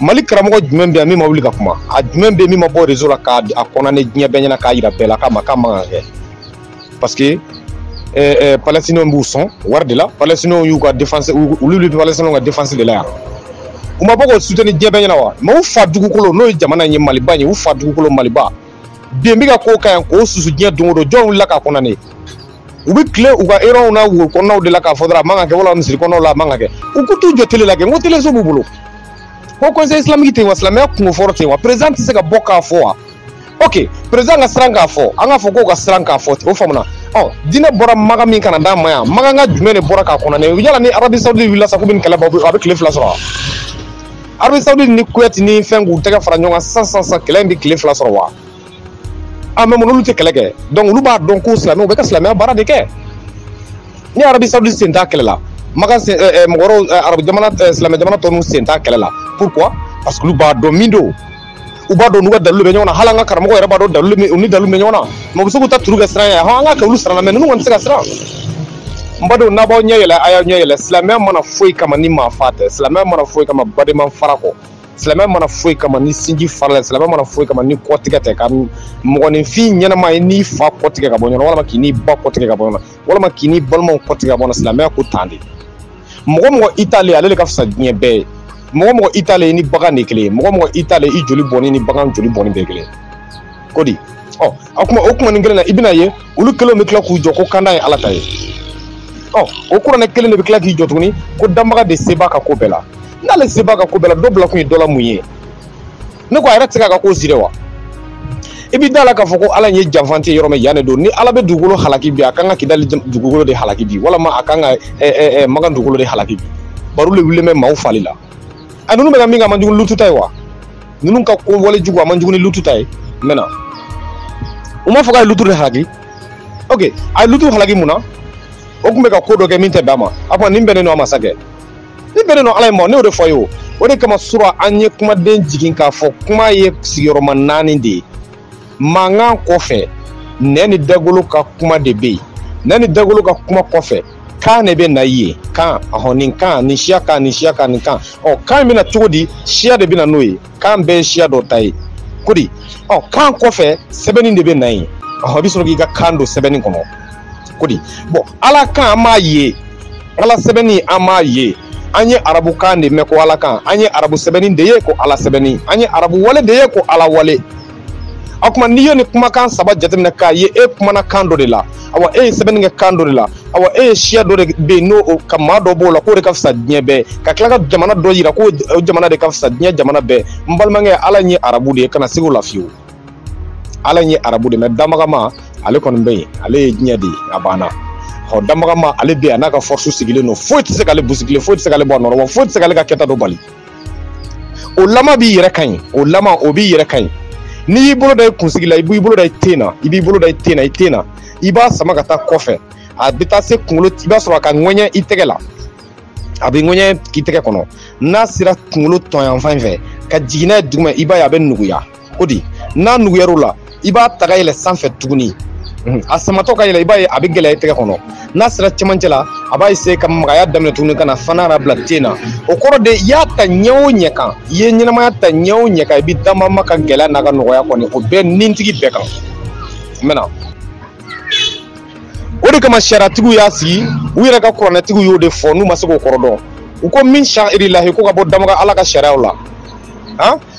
mali karamɔgɔ jumɛn bɛ yan min ma wuli ka kuma a jumɛn bɛ min ma bɔ rezo la k'a kondane diɲɛ bɛɛ ɲɛna k'a yira bɛɛ la k'a ma k'a man ka kɛ parce que eh, eh, palestinenw b'u sɔn wari de la palestinenw y'u ka defense olu bɛ palestinenw ka defense de la yan u ma bɔ k'o suteni diɲɛ bɛɛ ɲɛna wa mɛ u fa dugukolo n'o ye jamana in ye maliba in ye u fa dugukolo maliba den bɛ ka ko ka ɲi k'o susu diɲɛ don o don jɔn wulila k'a kondane ye u bɛ tile u ka erɔnw na woro kɔnɔnaw de la k'a fɔ dɔrɔn a man ka kɛ wala misiri kɔnɔnaw la a man ka kɛ u ka t'u jɔ tele la kɛ n ko teleso b'u bolo haut conseil islamique tɛ yen wa silamɛya kungo fɔlɔ tɛ yen wa président tɛ se ka bɔ k'a fɔ wa ok président ka siran k'a fɔ an k'a fɔ k'o ka siran k'a fɔ ten o faamuna ɔ diinɛ bɔra maka min ka na d'an ma yan makaka jumɛn de bɔra k'a kondane yala ni arabi saudi wulila sa k'u bɛ nin kɛlɛ bɔ a bɛ tile fila sɔrɔ wa Arabie Saoudite ni Kuwait ni fɛn k'u tɛgɛ fara ɲɔgɔn kan sisan sisan sisan kɛlɛ in bɛ tile fila sɔrɔ wa a mɛ munna olu tɛ kɛlɛ kɛ donc olu b'a dɔn ko silamɛw bɛ ka silamɛya baara de kɛ ni Arabie Saoudite sen t'a kɛlɛ la maka sen ɛ ɛ mɔgɔ wɛrɛw ɛ arabu jamana ɛ silamɛ jamana tɔ ninnu sen t'a kɛlɛ la pourquoi parce que olu b'a dɔn min don u b'a dɔn n'u ka dalilu bɛ ɲɔgɔn na hali an ka karamɔgɔ yɛrɛ b'a dɔn dalilu bɛ u ni dalilu bɛ ɲɔgɔn na mɛ u bɛ se k'u ta turu kɛ siran ye hɔn an k'a kɛ olu siran na mɛ ninnu kɔni tɛ se ka siran n badenw n'a b'aw ɲɛ yɛlɛ a y'aw ɲɛ yɛlɛ silamɛya ma na foyi kama ni maa fa tɛ silamɛya ma na foyi kama badenma fara kɔ silamɛya ma na foyi kama ni sinji fara la silamɛya ma na foyi kama ni kɔtigɛ tɛ ka mɔgɔninfin ɲɛnama ye n'i fa kɔtigɛ ka bɔ ɲɔgɔn na walima k'i n'i ba kɔtigɛ ka bɔ ɲɔgɔn na walima k'i n'i balimaw kɔtigɛ ka bɔ na silamɛya ko tan de mɔgɔ mɔgɔ i t'ale ale de ka fisa diɲɛ bɛɛ ye mɔgɔ o mɔgɔ i t'ale ni bagan de kelen ye mɔgɔ mɔgɔ i t'ale i joli bɔnni ni bagan joli bɔnni bɛɛ kelen ko di ɔ a kuma o kuma nin kelen na i bɛna ye olu kelenw bɛ tila k'u jɔ ko kanda ye ala ta ye ɔ o kuranɛ kelen de bɛ tila k'i jɔ tuguni ko danbaga de se b'a ka ko bɛɛ la n'ale se b'a ka ko bɛɛ la dɔ bila kun ye dɔ la mun ye ne ko a yɛrɛ tɛ se k'a ka ko sire wa i b'i da la k'a fɔ ko ala ye janfanci ye yɔrɔ min yan de don ni ala bɛ dugukolo halaki bi a kan ka kidali dugukolo de halaki bi walama a kan ka makan dugukolo de halaki bi bari o de wulilen bɛ maaw fali la a ninnu bɛ ka min kɛ a man jugu lutu ta ye wa ninnu ka kɛwale jugu a man jugu ni lutu ta ye n mɛna u m'a fɔ k'a ye lutu de halaki ok a ye lutu halaki mun na o tun bɛ ka ko dɔ kɛ min tɛ bɛn a ma a ko nin bɛnnen don a ma sa kɛ nin bɛnnen don ala ye ma ne y'o de fɔ ye o o de kama sura an ye kumaden jigin k'a fɔ kuma ye sigiyɔrɔma naani de ye mankan kɔfɛ nɛn ni dagolo ka kuma de bɛ yen nɛn ni dagolo ka kuma kɔfɛ kan de bɛ na yen kan ɔhɔn nin kan nin siya kan nin siya kan nin kan ɔ kan in bɛ na cogo di siya de bɛ na n'o ye kan bɛɛ ye siya dɔ ta ye ko di ɔ kan kɔfɛ sɛbɛnni de bɛ na yen ɔ i bɛ sɔrɔ k'i ka kan don sɛbɛnni kɔnɔ ko di bɔn ala kan an m'a ye ala sɛbɛnni an m'a ye an ye arabu kan de mɛn ko ala kan an ye arabu sɛbɛnni de ye ko ala sɛbɛnni an ye arabu wale de ye ko ala wale o tuma n'i ye nin kumakan saba jateminɛ k'a ye e kumana kan dɔ de la awa e ye sɛbɛnni kɛ kan dɔ de la awa e ye siya dɔ de bɛ yen n'o ka maa dɔ b'o la k'o de ka fisa diɲɛ bɛɛ ka tila ka jamana dɔ yira k'o jamana de ka fisa diɲɛ jamana bɛɛ n balimakɛ ala ye arabu de ye kana siga o la fiyewu ala ye arabu de mɛ danbaga maa ale kɔni bɛ yen ale ye diɲɛ de ye a banna ɔ danbaga maa ale bɛ yen a n'a ka fɔrisu sigilen don foyi tɛ se k'ale busigilen foyi tɛ se k'ale bɔ a nɔ rɔ wa foyi tɛ se k'ale ka kɛta dɔ bali o lama b'i yɛrɛ ka ɲi o lama o b'i yɛrɛ ka ɲi n'i y'i bolo da i kunsigi la i b'i bolo da i ten na i b'i bolo da i ten na i ten na i b'a sama ka taa kɔfɛ a bɛ taa se kunkolo i b'a sɔrɔ a ka ŋɛɲɛ i tɛgɛ la a bɛ ŋɛɲɛ k'i tɛgɛ kɔnɔ n'a sera kunkolo tɔn yanfan in fɛ ka jigin n'a ye duguma i b'a ye a bɛ nuguya ko di n'a nuguyar'o la i b'a ta ka yɛlɛ sanfɛ tuguni a samatɔ ka yɛlɛ i b'a ye a bɛ gɛlɛya i tɛgɛ kɔnɔ n'a sera cɛmancɛ la a b'a essayer ka magaya daminɛ tuguni ka na fo ka n'a bila ten na o kɔrɔ de i y'a ta ɲɛ o ɲɛ kan i ye ɲɛnamaya ta ɲɛ o ɲɛ kan i bɛ damama ka gɛlɛya n'a ka nɔgɔya kɔni o bɛɛ nintigi bɛɛ kan n bɛna o de kama sariyatigiw y'a sigi u yɛrɛ ka kuranɛtigiw y'o de fɔ n'u ma se k'o kɔrɔ dɔn u ko min sariyirilahi ko ka bɔ danbaga ala ka sariyaw la han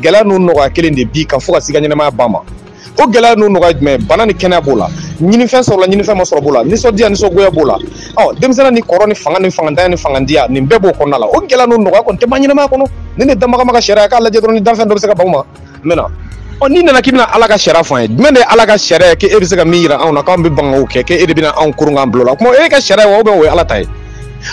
gɛlɛya ni nɔgɔya kelen de b'i kan fo ka se i ka ɲɛnamaya ban ma o gɛlɛya ni nɔgɔya jumɛn bana ni kɛnɛya b'o la ɲinifɛn sɔrɔla ɲinifɛn ma sɔrɔ b'o la nisɔndiya nisɔngoya b'o la ɔ denmisɛnnin ni kɔrɔ ni fanga ni fangantanya ni fangandiya nin bɛɛ b'o kɔnɔna la o gɛlɛya ni nɔgɔya kɔni tɛ ban ɲɛnamaya kɔnɔ nin de danbagama ka sariya k'a lajɛ dɔrɔn ni danfɛn dɔ bɛ se ka ban o ma n bɛna ɔ n'i nana k'i bɛna ala ka sariya fɔ an ye jumɛn de ye ala ka sariya ye k'e bɛ se ka min jira anw na k'anw bɛ ban k'o kɛ k'e de bɛna anw koron k'an bil'o la o tuma o y'e ka sariya ye wa ou bien o ye ala ta ye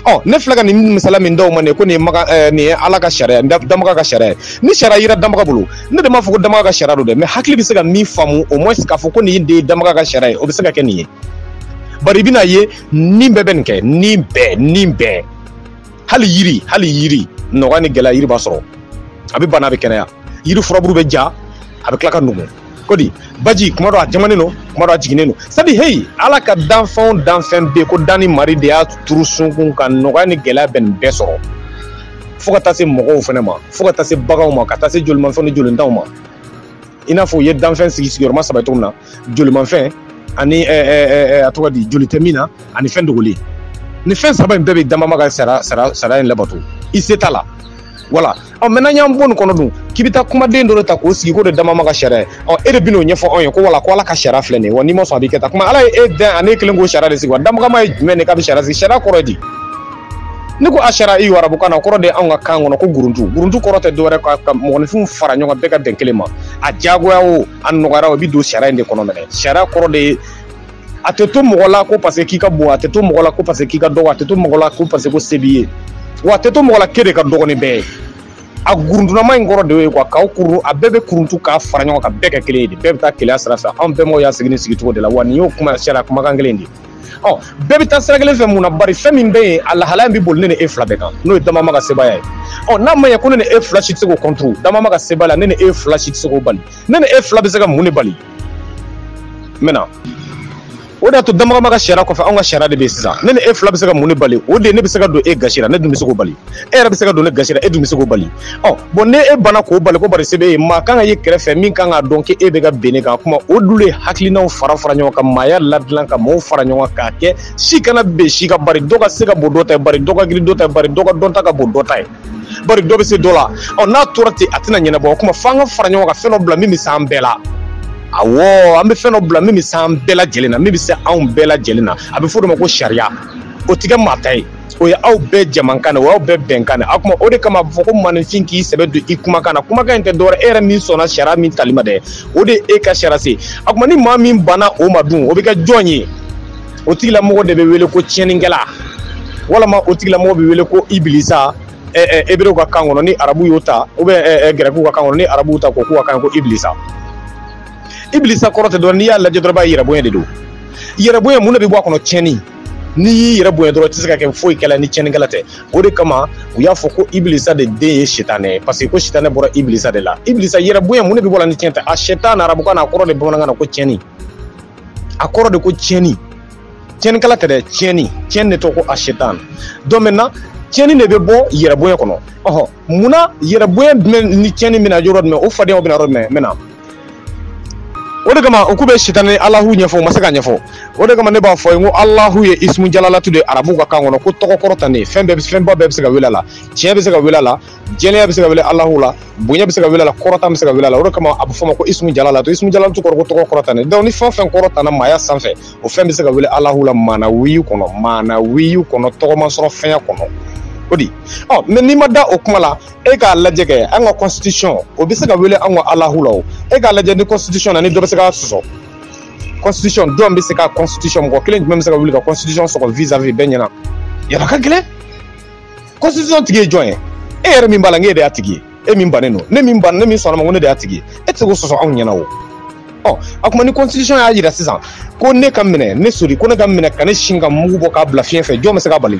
ɔ ne filɛ ka nin misala min d'aw ma nin ko nin ye maga ɛɛ eh, nin ye ala ka sariya danbaga ka sariya ye ni sariya yira danbaga bolo ne de m'a fɔ ko danbaga ka sariya don dɛ mais hakili bɛ se ka min faamu au moins k'a fɔ ko nin de ye danbaga ka sariya ye o bɛ se ka kɛ nin ye bari i bɛn'a ye nin bɛɛ bɛ nin kɛ nin bɛɛ nin bɛɛ hali yiri hali yiri nɔgɔya ni gɛlɛya yiri b'a sɔrɔ a bɛ bana a bɛ kɛnɛya yiri furabulu bɛ ja a bɛ tila ka nugu kɔji baji kuma dɔ a jamanen don kuma dɔ a jiginnen don sabu heyi ala ka danfɛn o danfɛn bɛ ko danni maari de y'a turu sunkun ka nɔgɔya ni gɛlɛya bɛ nin bɛɛ sɔrɔ fo ka taa se mɔgɔw fana ma fo ka taa se baganw ma ka taa se jolimafɛnw ni jolintanw ma i n'a fɔ u ye danfɛn sigi sigiyɔrɔma saba cogo min na jolimafɛn ani a tɔgɔ di joli tɛ min na ani fɛn dogolen nin fɛn saba in bɛɛ bɛ danbaama ka sara sara sariya in labato i se t'a la voilà ɔ mais n'a y'an bɔ nin kɔnɔ dun k'i bɛ taa kumaden dɔ de ta k'o sigi k'o de danbaama ka sariya ye ɔ e de bɛ n'o ɲɛfɔ anw ye ko voilà ko ala ka sariya filɛ nin ye wa n'i ma sɔn a b'i kɛ tan kuma ala ye e dɛn ani e kelen k'o sariya de sigi wa danbagama ye jumɛn de k'a bɛ sariya sigi sariya kɔrɔ ye di ne ko a sariya i y'o arabukan na o kɔrɔ de ye anw ka kan kɔnɔ ko kurundu kurundu kɔrɔ tɛ dɔwɛrɛ ka ka mɔgɔninfinw fara ɲɔgɔn bɛɛ ka bɛn kelen ma a diyagoya o a nɔgɔyara o i bɛ don sariya in de kɔnɔ nin de sariya kɔrɔ de ye a tɛ to mɔgɔ la ko parce que k'i ka bon a tɛ to mɔgɔ la ko parce que k'i ka dɔgɔ a tɛ to mɔgɔ la ko parce que ko se b'i ye wa a tɛ to mɔgɔ la k'e de ka dɔgɔ ni bɛɛ ye a gurundunama in kɔrɔ de ye quoi k'aw kurun a bɛɛ bɛ kurundu k'a fara ɲɔgɔn kan bɛɛ kɛ kelen ye de bɛɛ bɛ taa kelenya sira fɛ anw bɛnbaw y'a sigi nin sigicogo de la wa nin y'o kuma sariya kumakan kelen de ɔ bɛɛ bɛ taa sira kelen fɛ mun na bari fɛn min bɛ yen a lahalaya in bɛ boli ne ni e fila bɛɛ kan n'o ye danbaama ka sebaaya ye ɔ n'a ma ɲɛ ko ne ni e fila si tɛ se k'o kɔntoro danbaama ka sebaaya la ne ni e fila si tɛ se k'o bali ne ni e fila bɛ se ka mun de bali mun na o de y'a to danbagama ka sariya kɔfɛ anw ka sariya de bɛ yen sisan ne ni e fila bɛ se ka mun de bali o de ye ne bɛ se ka don e gasi la ne dun bɛ se k'o bali e yɛrɛ bɛ se ka don ne gasi la e dun bɛ se k'o bali ɔ bon n'e banna k'o bali ko bari se b'e ye maa kan ka ye kɛrɛfɛ min kan k'a dɔn k'e bɛ ka ben ne kan kuma o dun de ye hakilinaw fara fara ɲɔgɔn kan maaya ladilan ka maaw fara ɲɔgɔn kan k'a kɛ si kana ben si kan bari dɔ ka se ka bon dɔ ta ye bari dɔ ka girin dɔ ta ye bari dɔ ka dɔnta ka bon dɔ ta ye bari dɔ bɛ se dɔ la ɔ n'a tora ten a tɛna ɲɛnabɔ o kuma f'an ka fara ɲɔgɔn kan fɛn dɔ bila min bɛ se an bɛɛ la awɔ an bɛ fɛn dɔ bila min bɛ se an bɛɛ lajɛlen na min bɛ se anw bɛɛ lajɛlen na a bɛ fɔ o de ma ko sariya o tɛ kɛ maa ta ye o ye aw bɛɛ jamakan de o y'aw bɛɛ bɛnkan de a kuma o de kama a bɛ fɔ ko maaninfin k'i sɛbɛ don i kumakan na kumakan in tɛ dɔwɛrɛ e yɛrɛ min sɔnna sariya min tali ma dɛ o de ye e ka sariya se a kuma ni maa min banna o ma dun o bɛ kɛ jɔn ye o tigilamɔgɔ de bɛ wele ko tiɲɛnikɛla walama o tigilamɔgɔ bɛ wele ko ibilisa eberew ka kan kɔnɔ ni arabu y'o ta ou bien gɛrɛkiw ka kan kɔnɔ ni arabuw ta ko k'u ka kan ko ibilisa ibilisa kɔrɔ tɛ dɔrɔn n'i y'a lajɛ dɔrɔn b'a yɛrɛ bonya de don yɛrɛ bonya mun de bɛ bɔ a kɔnɔ tiɲɛni n'i y'i yɛrɛ bonya dɔrɔn i tɛ se ka kɛ foyi kɛla ni tiɲɛnikɛla tɛ o de kama u y'a fɔ ko ibilisa de den ye sitanɛ ye parce que ko sitanɛ bɔra ibilisa de la ibilisa yɛrɛ bonya mun de bɛ bɔ a la ni tiɲɛni tɛ a sitan arabukan na a kɔrɔ de bamanankan na ko tiɲɛni a kɔrɔ de ko tiɲɛni tiɲɛnikɛla tɛ dɛ tiɲɛni tiɲɛni de tɔgɔ ko asetan donc maintenant tiɲɛni de bɛ bɔ yɛrɛbonya kɔnɔ ɔhɔ munna yɛrɛbonya dun ni tiɲɛni bɛna yɔrɔ jumɛn o fadenyaw bɛna yɔrɔ jumɛn mɛna o de kama u k'u bɛ sitan ni alahu ɲɛfɔ u ma se k'a ɲɛfɔ o de kama ne b'a f'i ye ko alahu ye ismu jalalatu de ye arabuw ka kan kɔnɔ ko tɔgɔ kɔrɔtalen fɛn bɛɛ fɛnba bɛɛ bɛ se ka wele a la tiɲɛ bɛ se ka wele a la jɛlenya bɛ se ka wele alahu la bonya bɛ se ka wele a la kɔrɔta bɛ se ka wele a la o de kama a bɛ f'a ma ko ismu jalalatu ismu jalalatu kɔrɔ ko tɔgɔ kɔrɔtalen donc ni fɛn o fɛn kɔrɔtara maaya sanfɛ o fɛn bɛ se ka wele alahu la maanawiyu kɔnɔ maanawiyu kɔnɔ tɔgɔma sɔrɔ fɛnya kɔnɔ ko di ɔ mais n'i ma da o kuma la e k'a lajɛ kɛ an ka constitution o bɛ se ka wele an ka alahu la o e k'a lajɛ ni constitution na ni dɔ bɛ se k'a sɔsɔ constitution jɔn bɛ se ka constitution mɔgɔ kelen jumɛn bɛ se ka wuli ka constitution sɔsɔ vis-à-vis bɛɛ ɲɛna yala ka gɛlɛn constitution tigi ye jɔn ye e yɛrɛ min b'a la n'e de y'a tigi ye e min bannen don ne min ban ne min sɔnn'a ma ko ne de y'a tigi ye e tɛ se k'o sɔsɔ anw ɲɛna o ɔ a kuma ni constitution y'a jira sisan ko ne ka minɛ ne sori ko ne ka minɛ ka ne si k'a mugu bɔ k'a bila fiɲɛ fɛ jɔn bɛ se k'a bali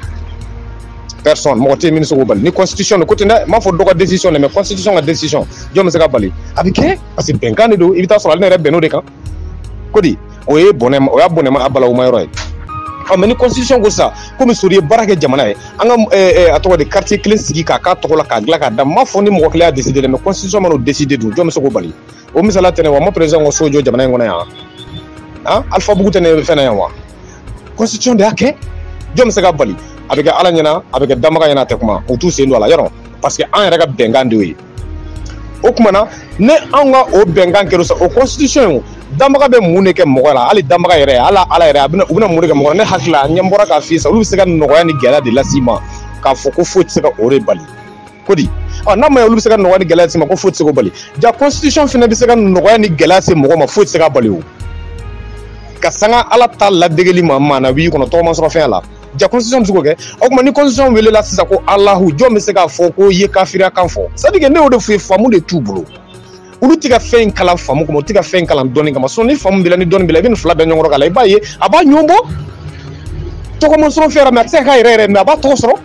personne mɔgɔ tɛ yen min bɛ se k'o bali ni constitution dun ko ten dɛ n m'a fɔ dɔ ka décision dɛ mais constitution ka décision jɔn bɛ se k'a bali a bɛ kɛ parce que bɛnkan de don i bɛ taa sɔrɔ ale yɛrɛ bɛnn'o de kan ko di o ye bɔnɛ o y'a bɔnɛma a balawuma yɔrɔ ye ɔ mais ni constitution ko sisan komi sori ye baara kɛ jamana ye an ka eh, eh, a tɔgɔ de quartier kelen sigi k'a k'a tɔgɔ la k'a dilan k'a d'a ma fɔ ni mɔgɔ kelen y'a décider dɛ mais constitution man'o décider dun jɔn bɛ se k'o bali o misali tɛ yen wa an ma président ka so jɔ jamana in kɔnɔ yan han alpha bugu tɛ ne fɛn na yan wa constitution de y'a kɛ jɔn bɛ se k'a bali a bɛ kɛ ala ɲɛna a bɛ kɛ danbaga ɲɛna a tɛ kuma u t'u sen don a la yɛrɛ parce que an yɛrɛ ka bɛnkan de y'o ye o tuma na ni anw ka o bɛnkan kɛra sa o constitution in danbaga bɛ mun de kɛ mɔgɔ la hali danbaga yɛrɛ hali ala yɛrɛ a bɛna u bɛna mun de kɛ mɔgɔ la ne hakili la ne bɔra k'a f'i ye sa olu bɛ se ka nɔgɔya ni gɛlɛya de las'i ma k'a fɔ ko foyi tɛ se ka o de bali ko di ɔ n'a ma ye olu bɛ se ka nɔgɔya ni gɛlɛya s'i ma ko foyi tɛ se k'o bali ja constitution fana bɛ se ka nɔgɔya ni gɛlɛya se mɔgɔ ma foyi tɛ se k'a bali o ka sanga ala ta ladegeli ma maanawiyu kɔnɔ tɔgɔma sɔrɔ fɛn la ja constitution bɛ se k'o kɛ o tuma ni constitution welela sisan ko alahu jɔn bɛ se k'a fɔ k'o ye kafiriya kan fɔ c'est-à-dire que ne y'o de f'u ye faamu de t'u bolo olu tɛ ka fɛn in kalan faamu kama u tɛ ka fɛn in kalan dɔnni kama sinon ni faamu b'i la ni dɔnni b'i la i bɛ nin fila bɛɛ ɲɔgɔn k'a la i b'a ye a b'a ɲɔgɔn bɔ tɔgɔma sɔrɔ fɛn yɛrɛ mais a tɛ se ka k'a yɛrɛ yɛrɛ mais a b'a tɔgɔ sɔrɔ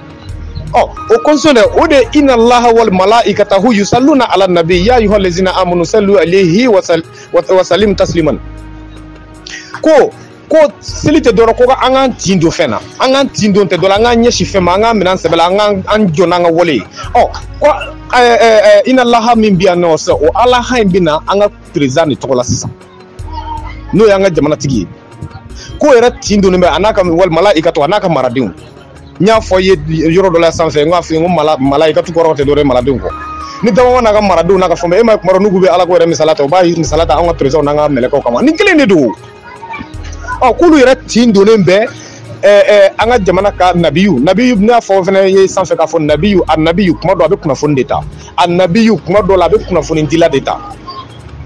ɔ o constitution dɛ o de ina laha wal malaikatahu yusalluna ala nabi ya ayuha lezina amanu sallu alayhi wa sal- wa- wa salim tasliman ko ko seli tɛ dɔrɔn ko ka an k'an tin don fɛn na an k'an tin don tɛ dɔrɔn an k'an ɲɛsin fɛn ma an k'a minɛ sɛbɛ la an k'an an jɔ n'an ka wale ye ɔ ko inna allaha min bɛ yan nɔ sɛ o alaha in bɛ na an ka perezidan de tɔgɔ la sisan n'o y'an ka jamanatigi ye k'o yɛrɛ tin donnen bɛ a n'a ka wa malaikatu a n'a ka maradenw n y'a fɔ ye yɔrɔ dɔ la sanfɛ n k'a fɔ ye ko mala malaikatu kɔrɔ tɛ dɔrɔn maradenw kɔ ni dama n'a ka maradenw n'a ka fɛn e ma kuma n'u bɛ ala ko yɛrɛ misala ta u b'a misala ta an ka perezidanw n'an ka mɛlɛkɛw kama nin kelen de don ɔ k'olu yɛrɛ tin donnen bɛ ɛɛ ɛɛ an ka jamana ka nabiyu nabiyu n'a fɔ fana ye sanfɛ k'a fɔ nabiyu a nabiyu kuma dɔ a bɛ kunnafoni de ta a nabiyu kuma dɔ la a bɛ kunnafoni dila de ta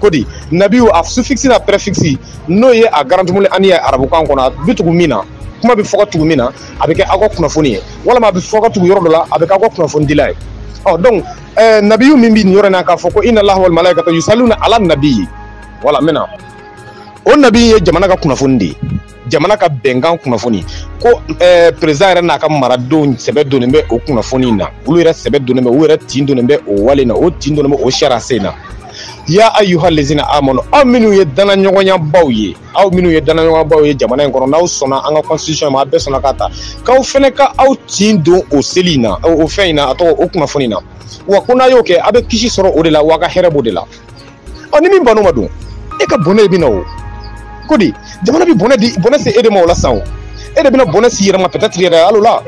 ko di nabiyu a suffix n'a prefix n'o ye a garantumuli ani ye arabukan kɔnɔ a bɛ tugu min na kuma bɛ fɔ ka tugu min na a bɛ kɛ aw ka kunnafoni ye walima a bɛ fɔ ka tugu yɔrɔ dɔ la a bɛ kɛ aw ka kunnafoni dila ye ɔ donc ɛɛ nabiyu min bɛ nin yɔrɔ in na k'a fɔ ko inna allaha wa malaikatu yusalluna ala nabiyi wala n bɛ na o nabi ye jamana ka kunnafoni de ye jamana ka bɛnkan kunnafoni ko eh, perezidan yɛrɛ n'a ka maradenw sɛbɛ donnen bɛ o kunnafoni in na olu yɛrɛ sɛbɛ donnen bɛ u yɛrɛ tin donnen bɛ o wale in na u tin donnen bɛ o sariyasen in na ya ayuha lezina amanu aw minnu ye danaɲɔgɔnyabaw ye aw minnu ye danaɲɔgɔnyabaw ye jamana in kɔnɔ n'aw sɔnna an ka constitution ma a bɛɛ sɔnna k'a ta k'aw fɛnɛ ka aw tin don o seli in na o fɛn in na a tɔgɔ o kunnafoni in na wa ko n'a y'o kɛ a bɛ kisi sɔrɔ o de la wa a ka hɛrɛ b'o de la ɔ ni min banna a ma dun e ka bɔnɛ i bɛ na o ko di jamana bɛ bɔnɛ di bɔnɛ se e de ma o la sisan o e de bɛna bɔnɛ s'i yɛrɛ ma peut-être yɛrɛ hali o la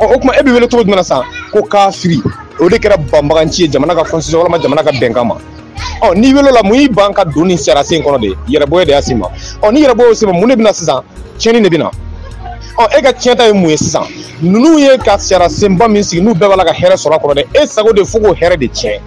ɔ o tuma e bɛ wele cogo jumɛn na sisan ko kafiri o de kɛra banbaganci ye jamana ka constitution walima jamana ka bɛnkan ma ɔ n'i welela mun y'i ban ka don nin sariya sen kɔnɔ de yɛrɛbonya de y'a s'i ma ɔ ni yɛrɛbonya y'o s'i ma mun de bɛna sisan tiɲɛni de bɛna ɔ e ka tiɲɛ ta ye mun ye sisan ninnu ye ka sariya senba min sigi n'u bɛɛ b'a la ka hɛrɛ sɔrɔ a kɔnɔ dɛ e sago de fo k'o hɛrɛ de tiɲɛ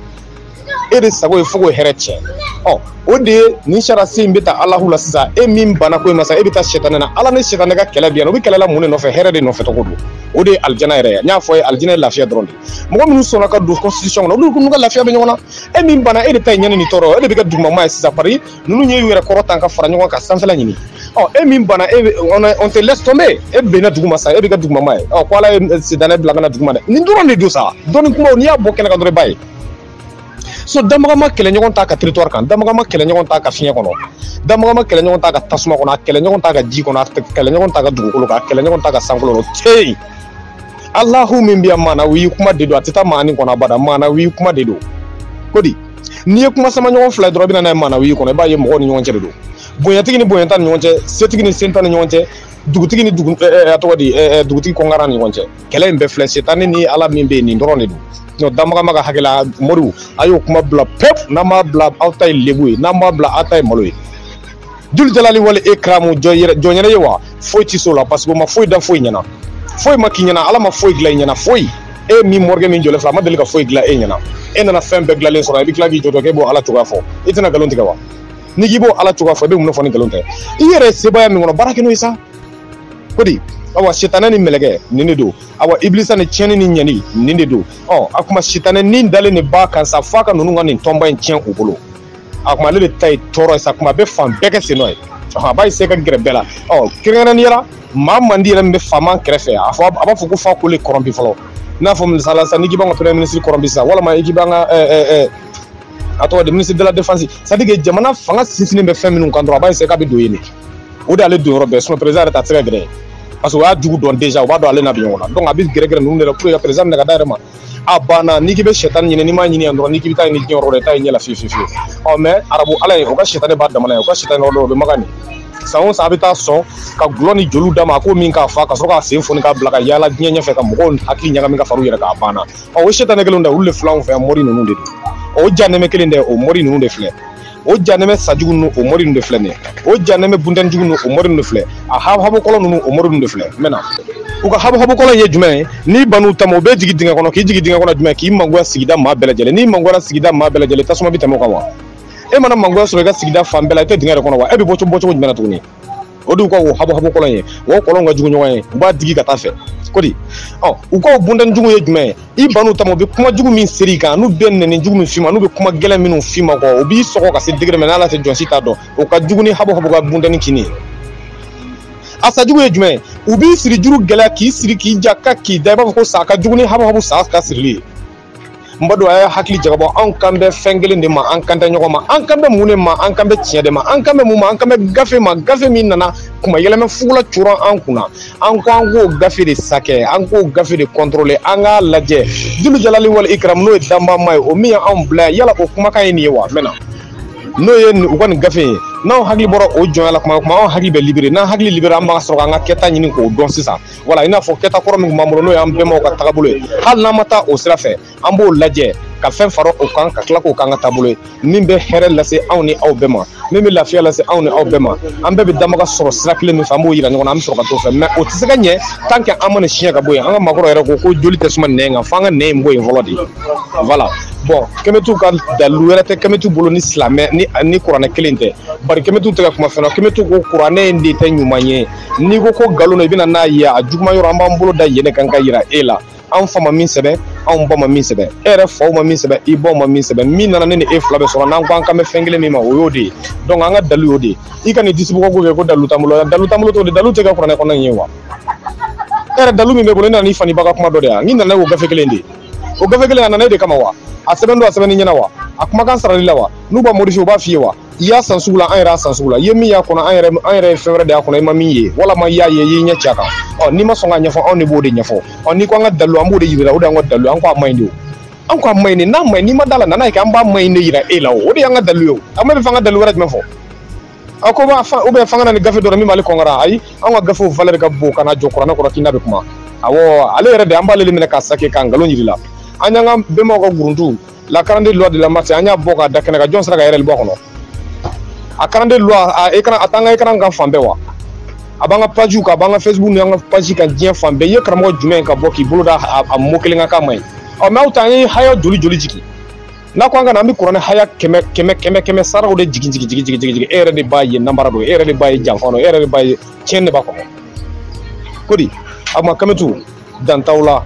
e de sago ye fo k'o hɛrɛ tiɲɛ ɔ o de ye nin sarasi in bɛ taa alahu la sisan e min banna ko in ma sa e bɛ taa sɛtanɛ na ala ni sɛtanɛ ka kɛlɛ bɛ yan u bɛ kɛlɛ la mun de nɔfɛ hɛrɛ de nɔfɛ tɔgɔ don o de ye alijana yɛrɛ ye n y'a fɔ a ye alijana ye lafiya dɔrɔn de ye mɔgɔ minnu sɔnna ka don constitution kɔnɔ olu n'u ka lafiya bɛ ɲɔgɔn na e min banna e de ta ye ɲɛni ni tɔɔrɔ e de bɛ kɛ dugumama ye sisan pari ninnu y'u yɛrɛ kɔrɔta ka fara ɲɔgɔn kan sanfɛla ɲini ɔ e min banna e on te laisse tomber e benna duguma sa e bɛ kɛ dugumama ye ɔ ko ala ye sɛtanɛ bila ka na duguma dɛ nin dɔrɔn de don sa dɔnni kumaw n'i y'a bɔ kɛnɛ kan dɔrɔn i b'a ye so damagama kɛlɛɲɔgɔn t'a ka territoire kan damagama kɛlɛɲɔgɔn t'a ka fiɲɛ kɔnɔ damagama kɛlɛɲɔgɔn t'a ka tasuma kɔnɔ a kɛlɛɲɔgɔn t'a ka ji kɔnɔ a kɛlɛɲɔgɔn t'a ka dugukolo kan a kɛlɛɲɔgɔn t'a ka sankolo kɔnɔ teyi alahu min bɛ yan maanawi kuma de don a tɛ taa maani kɔnɔ abada maanawi kuma de don ko di n'i ye kuma samaɲɔgɔn fila dɔrɔn bɛ na n'a ye maanawi kɔnɔ i b'a ye mɔgɔw ni ɲɔgɔn cɛ de don bonyatigi ni bonyantan ni ɲɔgɔn cɛ setigi ni sentan ni ɲɔgɔn cɛ dugutigi ni dugu eh, eh, a tɔgɔ di eh, dugutigi kɔnkara ni ɲɔgɔn cɛ kɛlɛ in bɛɛ filɛ sɛtanɛ ni ala min bɛ yen nin dɔrɔn de don nɔ damagama ka hakɛ la moriw a y'o kuma bila pewu n'aw m'a bila aw ta ye lebu ye n'aw m'a bila aw ta ye malo ye julu jalali wala ikramu jɔn yɛrɛ ye wa foyi ti s'o la parce que o ma foyi dan foyi ɲɛna foyi ma k'i ɲɛna ala ma foyi dilan i ɲɛna foyi e min mɔrikɛ min jɔlen filɛ a ma deli ka foyi dilan e ɲɛna e nana fɛn bɛɛ dilanlen sɔrɔ i bɛ tila k'i jɔtɔ k'e b'o ala cogoya fɔ i tɛna nkalon tigɛ wa n'i k'i b'o ala cogoya fɔ i bɛ mun de fɔ ni nkalon tɛ i yɛrɛ sebaya min kɔnɔ baara kɛ n'o ye sa ko di awa sitanɛ ni mɛlɛkɛ nin de don awa ibilisa ni tiɲɛni ni ɲɛni nin de don ɔ a kuma sitanɛ ni dalen de b'a kan sa f'a ka ninnu ka nin tɔnba in tiɲɛ u bolo a kuma ale de ta ye tɔɔrɔ ye sa kuma bɛ fan bɛɛ kɛ sen nɔ ye a b'a se ka gɛrɛ bɛɛ la ɔ kɛrɛnkɛrɛnnenya la maa mandi yɛrɛ min bɛ faama kɛrɛfɛ a fɔ a b'a fɔ ko f'a k'o le kɔrɔnpi fɔlɔ n'a fɔ misali la sisan n'i k'i b'an ka premier ministre kɔrɔnpi sisan walima i k'i b'an ka a tɔgɔ di ministre de la défense c'est à dire que jamana fanga sinsinnen bɛ fɛn minnu kan dɔrɔn a b'a se k'a bɛ don yen de o de y'ale donyɔrɔ bɛɛ sinon président yɛrɛ ta tɛ se ka gɛrɛ parce que o y'a jugu dɔn déjà o b'a dɔn ale n'a bi ɲɔgɔn na donc a bɛ gɛrɛgɛrɛ ninnu de la pour que ka président minɛ ka d'a yɛrɛ ma a banna n'i k'i bɛ sɛtani ɲini n'i m'a ɲini yan dɔrɔn n'i k'i bɛ taa a ɲini diɲɛ yɔrɔ la i t'a ye ɲɛ la fiyewu fiyewu ɔ mais arabu ala ye o ka sɛtani b'a damana ye o ka sɛtani yɔrɔ dɔ o bɛ makan nin san o san a bɛ taa sɔn ka golo ni joliw d'a ma a k'o min ka fa ka sɔrɔ k'a sen foni k'a bila ka yaala diɲɛ ɲɛfɛ ka mɔgɔw hakili ɲagami ka fara u yɛrɛ kan a banna ɔ o sɛtani kelen dɛ olu de filɛ anw fɛ yan mɔri ninnu de don o janɛmɛ kelen dɛ o mɔri ninnu de filɛ o janɛmɛ sa jugu ninnu o mɔri ninnu de filɛ nin ye o janɛmɛ buntɛni jugu ninnu o mɔri ninnu de filɛ a habuhabu kɔlɔn ninnu o mɔri ninnu de filɛ maintenant u ka habuhabu kɔlɔn in ye jumɛn ye n'i ban u ta ma u b'i jigin dingɛ kɔnɔ k'i jigin dingɛ kɔnɔ jumɛn k'i mangoya sigida maa bɛɛ lajɛlen n'i mangoyara sigida maa bɛɛ lajɛlen tasuma bɛ tɛmɛ o kan wa e mana mangoya sɔrɔ i ka sigida fan bɛɛ la i tɛ dingɛ de kɔnɔ wa e bɛ bɔ cogo bɔ cogo jumɛn na tuguni o de y'u ka o habuhabu kɔlɔn ye o kɔlɔn ka jugu ɲɔgɔn ye u b'a digi ka taa fɛ kodi ɔ u ka o buntɛni jugu ye jumɛn ye i ban u ta ma u bɛ kuma jugu min seri i kan n'u bɛ nɛni jugu min f'i ma n'u bɛ kuma gɛlɛn minnu f'i ma kɔ o b'i sɔgɔ ka se degré min n'ala tɛ jɔn si t'a dɔn o ka jugu ni habuhabu ka buntɛni kinni ye a sa jugu ye jumɛn ye u b'i siri juru gɛlɛya k'i siri k'i ja ka k'i da i b'a fɔ ko sa ka jugu ni habuhabu sa ka sirili ye n badenw a ye hakili jagabɔ anw kan bɛ fɛn kelen de ma an kan tɛ ɲɔgɔn ma an kan bɛ mun de ma an kan bɛ tiɲɛ de ma an kan bɛ mun ma an kan bɛ gafe ma gafe min nana kuma yɛlɛmɛ fugula coron an kunna an ko an k'o gafe de sakɛ an k'o gafe de kɔntorole an k'a lajɛ julu jalali wali ikram n'o ye danbaa ma ye o min ye anw bila yala o kumakan ye nin ye wa maintenant n'o ye u ka nin gafe ye n'anw hakili bɔra o jɔnya la kuma kuma anw hakili bɛ libere n'an hakili libere an bɛ sɔrɔ k'an ka kɛta ɲini k'o dɔn sisan wala i n'a fɔ kɛta kɔrɔ min b'an bolo n'o y'an bɛnbaw ka taabolo ye hali n'an ma taa o sira fɛ an b'o lajɛ ka fɛn fara o kan ka tila k'o k'an ka taabolo ye min bɛ hɛrɛ lase anw ni aw bɛɛ ma min bɛ lafiya lase anw ni aw bɛɛ ma an bɛɛ bɛ damaga sɔrɔ sira kelen min fɛ an b'o yira ɲɔgɔn na an bɛ sɔrɔ ka t'o fɛ mais o tɛ se ka ɲɛ tant que an ma nin siɲɛ ka bɔ yen an ka maakɔrɔ yɛrɛ ko ko joli tɛ suma nɛn kan f'an ka nɛn in bɔ yen fɔlɔ de voilà bon kɛmɛtu ka dalilu wɛrɛ tɛ kɛmɛtu bolo ni silamɛ ni ni kuranɛ kelen tɛ bari kɛmɛtu tɛ ka kuma fɛn na kɛmɛtu ko kuranɛ in de tɛ ɲuman ye n'i ko ko nkalon don i bɛna n'a ye a juguman yɔrɔ an b'an bolo da yen de kan ka yira e la anw fa ma min sɛbɛn anw ba ma min sɛbɛn e yɛrɛ faw ma min sɛbɛn i baw ma min sɛbɛn min nana ne ni e fila bɛɛ sɔrɔ n'an ko an ka bɛn fɛn kelen min ma o y'o de ye donc an ka dalu y'o de ye i ka nin disibɔgɔko kɛ ko dalu t'an bolo dalu t'an bolo t'o de dalu tɛ kɛ kuranɛ kɔnɔ in ye wa e yɛrɛ dalu min b'i bolo i nana n'i fa ni ba ka kuma dɔ de yan n'i nana o gafe kelen de o gafe kelen a nana e de kama wa a sɛbɛn don a sɛbɛnni ɲɛna wa a kumakan sarali la wa n'u b'a modifier u b'a f'i ye wa i y'a san sugu la an yɛrɛ y'a san sugu la i ye min y'a kɔnɔ an yɛrɛ an yɛrɛ ye fɛn wɛrɛ de y'a kɔnɔ i ma min ye walima i y'a ye i y'i ɲɛ ci a kan ɔ n'i ma sɔn k'a ɲɛfɔ anw de b'o de ɲɛfɔ ɔ n'i ko an ka dalu an b'o de yir'i la o de y'an ka dalu an ko a man ɲi de o an ko a man ɲi de n'a man ɲi n'i ma da a la na n'a ye kɛ an b'a man ɲi de yira e la o o de y'an ka dalu ye o an bɛɛ b'a fɛ an ka dalu wɛrɛ jumɛn fɔ a ko b'a fa ubiyɛn fanga na ni gafe dɔrɔn min b'ale kɔnkara ayi an ka gafew valɛri ka bon ka na jɔ kuranɛ kɔrɔ k'i na bɛ kuma awɔ ale yɛrɛ de an b'ale de minɛ k'a sake k'a nkalon yir'i la an y'an ka bɛnbaw ka guruntu la quarante-deux lois de la maât an y'a bɔ k'a da kɛnɛ kan jɔn sera ka ɛrɛri bɔ a kɔnɔ a quarante-deux lois a ekran a t'an ka ekran kan fan bɛɛ wa a b'an ka pajiw kan a b'an ka facebook n'an ka paji kan diɲɛ fan bɛɛ i ye karamɔgɔ jumɛn ka bɔ k'i bolo da a mot kelen kan k'a man ɲi ɔ mɛ aw ta an ye haya joli joli jigin n'a ko an ka na an bɛ kuranɛ haya kɛmɛ kɛmɛ kɛmɛ kɛmɛ saraw de jigin jigin jigin jigin jigin e yɛrɛ de b'a ye namara don e yɛrɛ de b'a ye janfa don e yɛrɛ de b'a ye tiɲɛ de b'a kɔnɔ ko di a ma kamitu dantaw la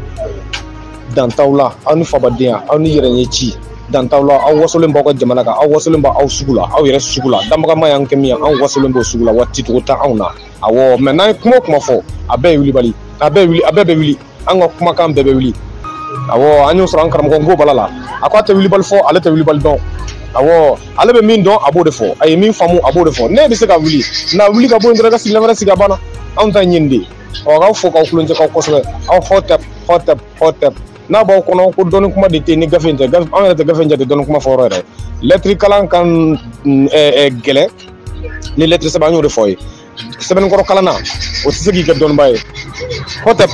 dantaw la aw ni fabadenya aw ni yɛrɛ ɲɛ ci dantaw la aw wasolen b'aw ka jamana kan aw wasolen b'aw sugu la aw yɛrɛ sugu la danbaga maa y'an kɛ min ye anw wasolen b'o sugu la waati cogo tɛ anw na awɔ mɛ n'an ye kuma o kuma fɔ a bɛɛ ye wulibali a bɛɛ wuli a bɛɛ bɛ wuli an ka kumakan bɛɛ bɛ wuli awɔ an y'o sɔrɔ an karamɔgɔ nko bala la a ko a tɛ wulibali fɔ ale tɛ wulibali dɔn awɔ ale bɛ min dɔn a b'o de fɔ a ye min faamu a b'o de fɔ ne bɛ se ka wuli n'a wuli ka bɔ yen dɔrɔn ka sigila wɛrɛ sigi a banna anw ta ye nin de ye ɔ k'aw fo k'aw tulonkɛ k'aw kosɛbɛ aw hɔtɛp hɔtɛp hɔtɛp n'a b'aw kɔnɔ ko dɔnni kuma de tɛ ni gafe in tɛ gafe anw yɛrɛ tɛ gafe in jate dɔnni kuma fɔ yɔrɔ yɛrɛ lɛtiri kalan ka gɛlɛn ni lɛtiri sɛbɛn an y'o de fɔ aw ye sɛbɛnni kɔrɔ kalanna o tɛ se k'i kɛ dɔnniba ye hɔtɛp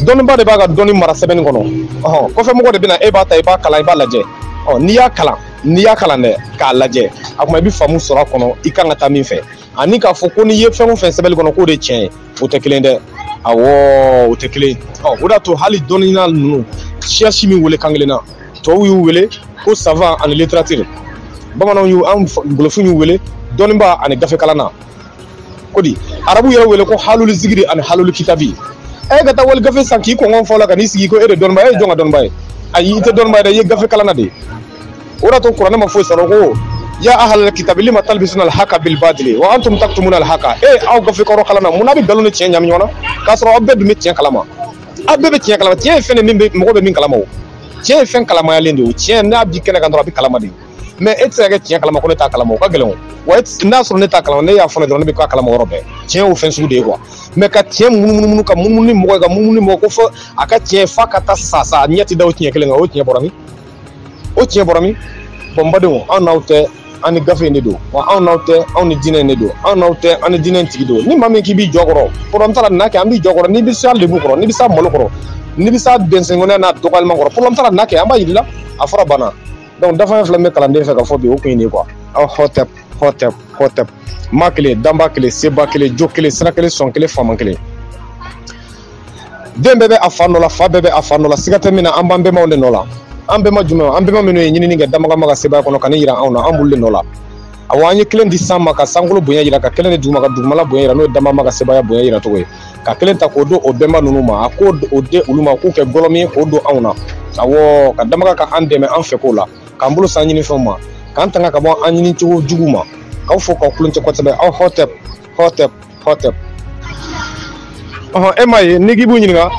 dɔnniba de b'a ka dɔnni mara sɛbɛnni kɔnɔ ɔhɔn kɔfɛ mɔgɔ de bɛ na e b'a ta i b'a kalan i b'a lajɛ ɔ n'i y'a kalan n'i y'a kalan dɛ k'a lajɛ a kuma i bɛ faamu sɔrɔ a kɔnɔ i kan ka taa min fɛ ani k'a fɔ ko n'i ye fɛn o fɛn sɛbɛnni kɔnɔ k'o de tiɲɛ ye o tɛ kelen dɛ awɔ o tɛ kelen ɔ o de y'a to hali dɔnniya ninnu siya si m'u wele kan kelen na tɔw y'u wele ko savant ani littéraire bamananw y'u an golofinw y'u wele dɔnniba ani gafekalanna ko di arabu yɛrɛ y'u wele ko haluli zigiri ani haluli kitabi e ka taa wali gafe san k'i kungolo fa a la ka n'i sigi ko e de dɔnniba e ye jɔn ka dɔnniba ye ayi i tɛ dɔnniba ye dɛ i ye gafekalanna de ye o de to kuranɛ ma foyi sɔrɔ ko ya ahalal kitabi lima talbisuna alhaka bilbadili wa antum taktumuna alhaka e eh, aw gafe kɔrɔ kalannaw mun na aw bɛ nkalon ni tiɲɛ ɲami ɲɔgɔn na k'a sɔrɔ aw bɛɛ dun bɛ tiɲɛ kalama aw bɛɛ bɛ tiɲɛ kalama tiɲɛ ye fɛn de min bɛ mɔgɔ bɛ min kalama o tiɲɛ ye fɛn kalamayalen de ye o tiɲɛ n'a bɛ kɛnɛ kan dɔrɔn a bɛ kalama de ye mɛ e tɛ se ka kɛ tiɲɛ kalama ko ne t'a kalama o ka gɛlɛn o wa e n'a sɔrɔ ne t'a kalama ne y'a fɔ ne dɔrɔn ne bɛ k'a kalama yɔrɔ bɛɛ tiɲɛ y'o fɛn sugu de ye quoi mɛ ka tiɲɛ munumunu ka munumunu ni mɔgɔ ye ka munumunu ni mɔgɔ ko fɔ a ka tiɲɛ f'a ka taa sa sa a ɲɛ tɛ da o tiɲɛ kelen kan o tiɲɛ bɔra min o tiɲɛ bɔra min bɔn badenw anw n'aw tɛ an ni gafe in de don wa anw n'aw tɛ anw ni diinɛ in de don anw n'aw tɛ an ni diinɛ in tigi don ni maa min k'i b'i jɔ a kɔrɔ problème t'a la na kɛ an b'i jɔ a kɔrɔ n'i bɛ s'a lebu kɔrɔ n'i bɛ s'a malo kɔrɔ n'i bɛ s'a dɛnsɛnkɔnɔya n'a dɔgɔyalima kɔrɔ problème t'a la na kɛ an b'a yir'i la a fɔra banna donc dafafɛn fila min bɛ kalanden fɛ ka fɔ bi o kun ye nin ye quoi aw hɔtɛp hɔtɛp hɔtɛp ma kelen danba kelen seba kelen jo kelen sira kelen sɔn kelen faama kelen den bɛɛ bɛ a fa nɔ la fa bɛɛ bɛ a fa nɔ la siga tɛ min na an b'an bɛnbaw de nɔ la an bɛnba jumɛn an bɛnba minnu ye ɲinini kɛ danbaga ma ka sebaaya kɔnɔ ka n'a jira anw na an b'olu de nɔ la awa an ye kelen di san ma ka sankolo bonya jira ka kelen di dugu ma ka dugumala bonya jira n'o ye danba ma ka sebaaya bonya jira cogo ye ka kelen ta k'o don o bɛnba ninnu ma a k'o o di olu ma k'u kɛ gɔlɔmi ye k'o don anw na awɔ ka danbaga ka an dɛmɛ an fɛ ko la k'an bolo se an ɲinifɛnw ma k'an tanga ka bɔ an ɲini cogo jugu ma k'aw fo k'aw kulon tɛ kosɛbɛ aw hɔtɛp hɔtɛp hɔtɛp ɔhɔ e ma ye n'i k'i b'u ɲininka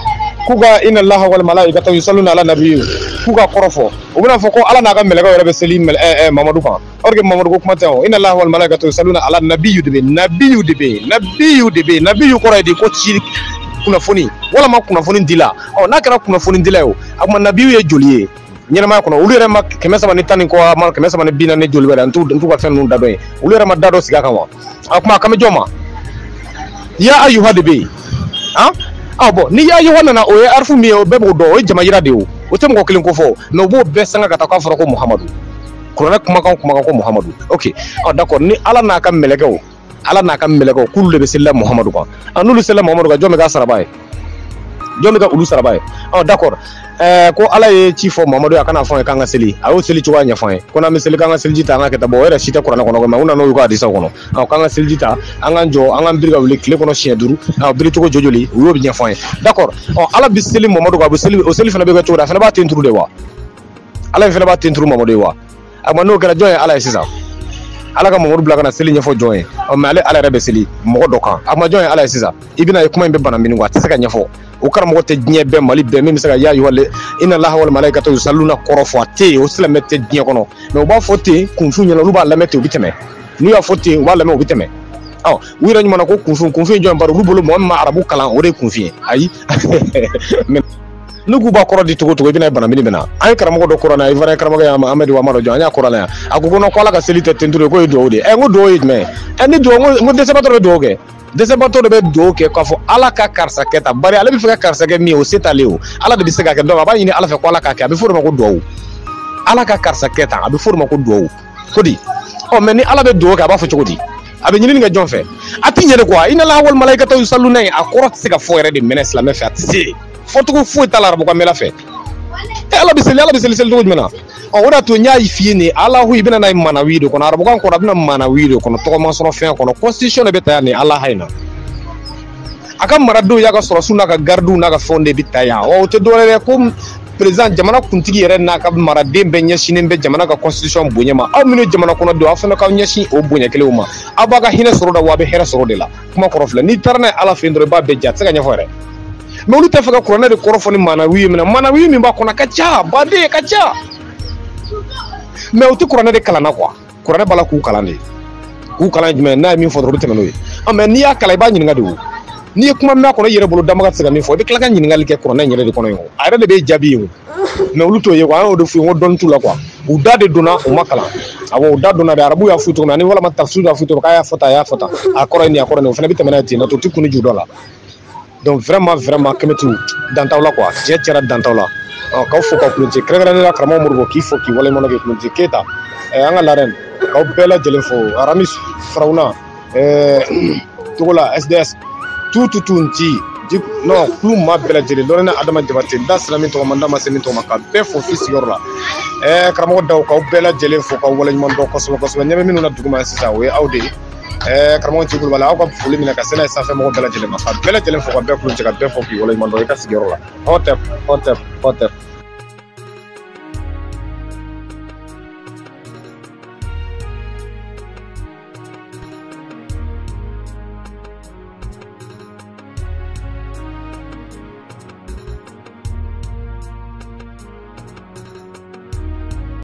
k'u ka ina laha wa malayikatahu yusaluna ala nabiyu k'u k'a kɔrɔ fɔ u bɛn'a fɔ ko ala n'a ka mɛlɛkɛw yɛrɛ bɛ seli eh, eh, mamadu kan or que mamadu ko kuma tɛ o ina laha wa malayikatahu yusaluna ala nabiyu de bɛ nabiyu de bɛ nabiyu de bɛ nabiyu kɔrɔ ye di ko ci kunnafoni walima kunnafoni dila ɔ n'a kɛra kunnafoni dila ye o a tuma nabiyu ye joli ye ɲɛnamaya kɔnɔ olu yɛrɛ maa kɛmɛ saba ni tan ni kɔ a maa kɛmɛ saba ni bi naani joli wɛrɛ n t'u ka fɛn ninnu da dɔn ye olu yɛrɛ ma da dɔ sigi a kan wa a kuma a kan bɛ jɔn ma ya ayuha de bɛ yen an ah, ɔ bɔn ni ya ayuha nana o ye arifu min ye o bɛɛ b'o dɔn o ye jama yira de ye o o tɛ mɔgɔ kelen ko fɔ mɛ u b'o bɛɛ sama ka taa k'a fɔra ko muhamadu kuranɛ kumakan kumakan ko muhamadu ok ɔ ah, d'accord ni ala n'a ka mɛlɛkɛw ala n'a ka mɛlɛkɛw k'olu de bɛ selila muhamadu kan a n'olu selila muhamadu kan jɔn bɛ k'a saraba ye jɔn bɛ kɛ olu saraba ye ɔ d'accord ɛɛ ko ala ye ci fɔ muhamadu ye a ka n'a fɔ an ye k'an ka seli a y'o seli cogoya ɲɛfɔ an ye ko n'an bɛ seli k'an ka seliji ta an k'a kɛ tan bɔn o yɛrɛ si tɛ kuranɛ kɔnɔ mɛ u nana y'u ka hadisaw kɔnɔ ɔ k'an ka seliji ta an k'an jɔ an k'an biri ka wuli tile kɔnɔ siɲɛ duuru ɔ biri cogo jɔ joli u y'o ɲɛfɔ an ye d'accord ɔ ala bɛ seli muhamadu kan a bɛ seli o seli fana bɛ kɛ cogo di a fana b'a ten turu de wa ala in fana b'a ten turu muhamadu ye wa a ma n'o kɛra jɔn ye ala ye sisan ala ka mamadu bila ka na seli ɲɛfɔ jɔn ye mɛ ale ala yɛrɛ bɛ seli mɔgɔ dɔ kan a ma jɔn ye ala ye sisan i bɛn'a ye kuma in bɛ bana min a tɛ se ka ɲɛfɔ o karamɔgɔ tɛ diɲɛ bɛɛ mali bɛɛ min bɛ se ka y'a yɔrɔ ina laha wa malayikatahu yusaluna kɔrɔ fɔ a tɛ yen o silamɛ tɛ diɲɛ kɔnɔ mɛ u b'a fɔ ten kunfinw ɲɛ na olu b'a lamɛn ten u bɛ tɛmɛ n'u y'a fɔ ten u b'a lamɛn u bɛ tɛmɛ ɔ u yɛrɛ ɲuman ko kunfin kunfin jɔn bari olu bolo mɔgɔ min ma arabu kalan o de ye kunfin ye ayi ne k'u b'a kɔrɔ di cogo cogo i bɛna bana min na an ye karamɔgɔ dɔ kɔrɔ na i fana ye karamɔgɔ ye amadu wa dɔ jɔ an y'a kɔrɔ na yan a ko ko ko ala ka seli tɛ tenturu ye k'o ye duwawu de ye ɛ n ko duwawu ye jumɛn ɛ ni duwawu n ko dɛsɛbatɔ bɛ duwawu kɛ dɛsɛbatɔ de bɛ duwawu kɛ k'a fɔ ala ka karisa kɛ tan bari ale b'a fɛ ka karisa kɛ min ye o se t'ale o ala de bɛ se k'a kɛ donc a b'a ɲini ala fɛ ko ala k'a kɛ a bɛ fɔ o de ma ko duwawu ala ka karisa kɛ tan a bɛ fɔ o de ma ko duwawu ko di ɔ mais ni ala bɛ dugawu kɛ a b'a fɔ cogo di a bɛ ɲinini kɛ jɔn fɛ a tɛ ɲɛ quoi inalaha wa malayikata yusaluna ye a kɔrɔ tɛ se ka fɔ yɛrɛ de même silamɛ fɛ a tɛ se fɔcogo foyi t'a la arabukan mɛla fɛ e ala bɛ seli ala bɛ seli seli cogo jumɛn na ɔ o de y'a to n y'a f'i ye nin alahu i bɛ na n'a ye manawi de kɔnɔ arabukan kɔnɔ a bɛ na manawi de kɔnɔ tɔgɔma sɔrɔ fɛn kɔnɔ constitution de bɛ ta yan nin alaha in na a ka maradenw y'a ka sɔrɔdasiw n'a ka garidiw n'a ka fɛnw de bɛ ta yan ɔ o tɛ dɔwɛrɛ ye ko président jamana kuntigi yɛrɛ n'a ka maraden bɛɛ ɲɛsinnen bɛ jamana ka constitution bonya ma aw minnu jamana kɔnɔ don aw fana k'aw ɲɛsin o bonya kelen ma aw b'a ka hinɛ sɔrɔ o de la a bɛ hɛrɛ sɔrɔ o de la kuma kɔrɔ filɛ n'i taara n'a ye ala fɛ yen dɔrɔn i b'a bɛɛ ja a tɛ se ka ɲɛfɔ yɛrɛ mais olu t'a fɛ ka kuranɛ de kɔrɔ fɔ ni maanawi ye minɛ maanawi min b'a kɔnɔ a ka ca baden ka ca mais u tɛ kuranɛ de kalan na quoi kuranɛ b'a la k'u kalan de k'u kalan jumɛn n'a ye min fɔ dɔrɔn u bɛ tɛmɛ n'o ye ɔ mais n'i y'a kalan i b'a ɲininka de o n'i ye kuma min kɔnɔ i yɛrɛ bolo dama ka se ka min fɔ i bɛ tila ka ɲininkali kɛ kuranɛ in yɛrɛ de kɔnɔ yen o a yɛrɛ de bɛ jaabi yen o mais olu t'o ye wa an y'o de f'u ye ko dɔnni t'u la quoi u da de donna u ma kalan awɔ u da donna de arabu y'a f'u cogo min ani walama tafsir y'a f'u cogo k'a y'a fɔ tan a y'a fɔ tan a kɔrɔ ye nin a kɔrɔ nin o fana bɛ tɛmɛ n'a ye ten na to u ti kun ju dɔn a la donc vraiment vraiment kɛmɛti dantaw la quoi tiɲɛ tiɲɛna dantaw la k'aw fo k'aw kulonti kɛrɛnkɛrɛnnenya la karamɔgɔ modibo k'i fo k'i waleɲumandɔn k'i kulonti keyita an ka la reine k'aw bɛɛ lajɛlen fo aramis farawuna togola sds tout tout tout nti non kulu maa bɛɛ lajɛlen lɔrɛnɛ adama jabate n da sera min tɔgɔ ma n da ma se min tɔgɔ ma ka bɛɛ fo i sigiyɔrɔ la ɛɛ karamɔgɔ daw k'aw bɛɛ lajɛlen fo k'aw waleɲuman dɔn kosɛbɛ kosɛbɛ ɲɛ bɛ minnu na duguma sisan o ye aw de ye ɛɛ karamɔgɔ ci kulubali aw ka foli minɛ ka se n'a ye sanfɛ mɔgɔ bɛɛ lajɛlen ma ka bɛɛ lajɛlen fo ka bɛɛ kulo cɛ ka bɛɛ fo k'i waleɲuman dɔn i ka sigiyɔrɔ la hɔtɛp hɔtɛp hɔtɛp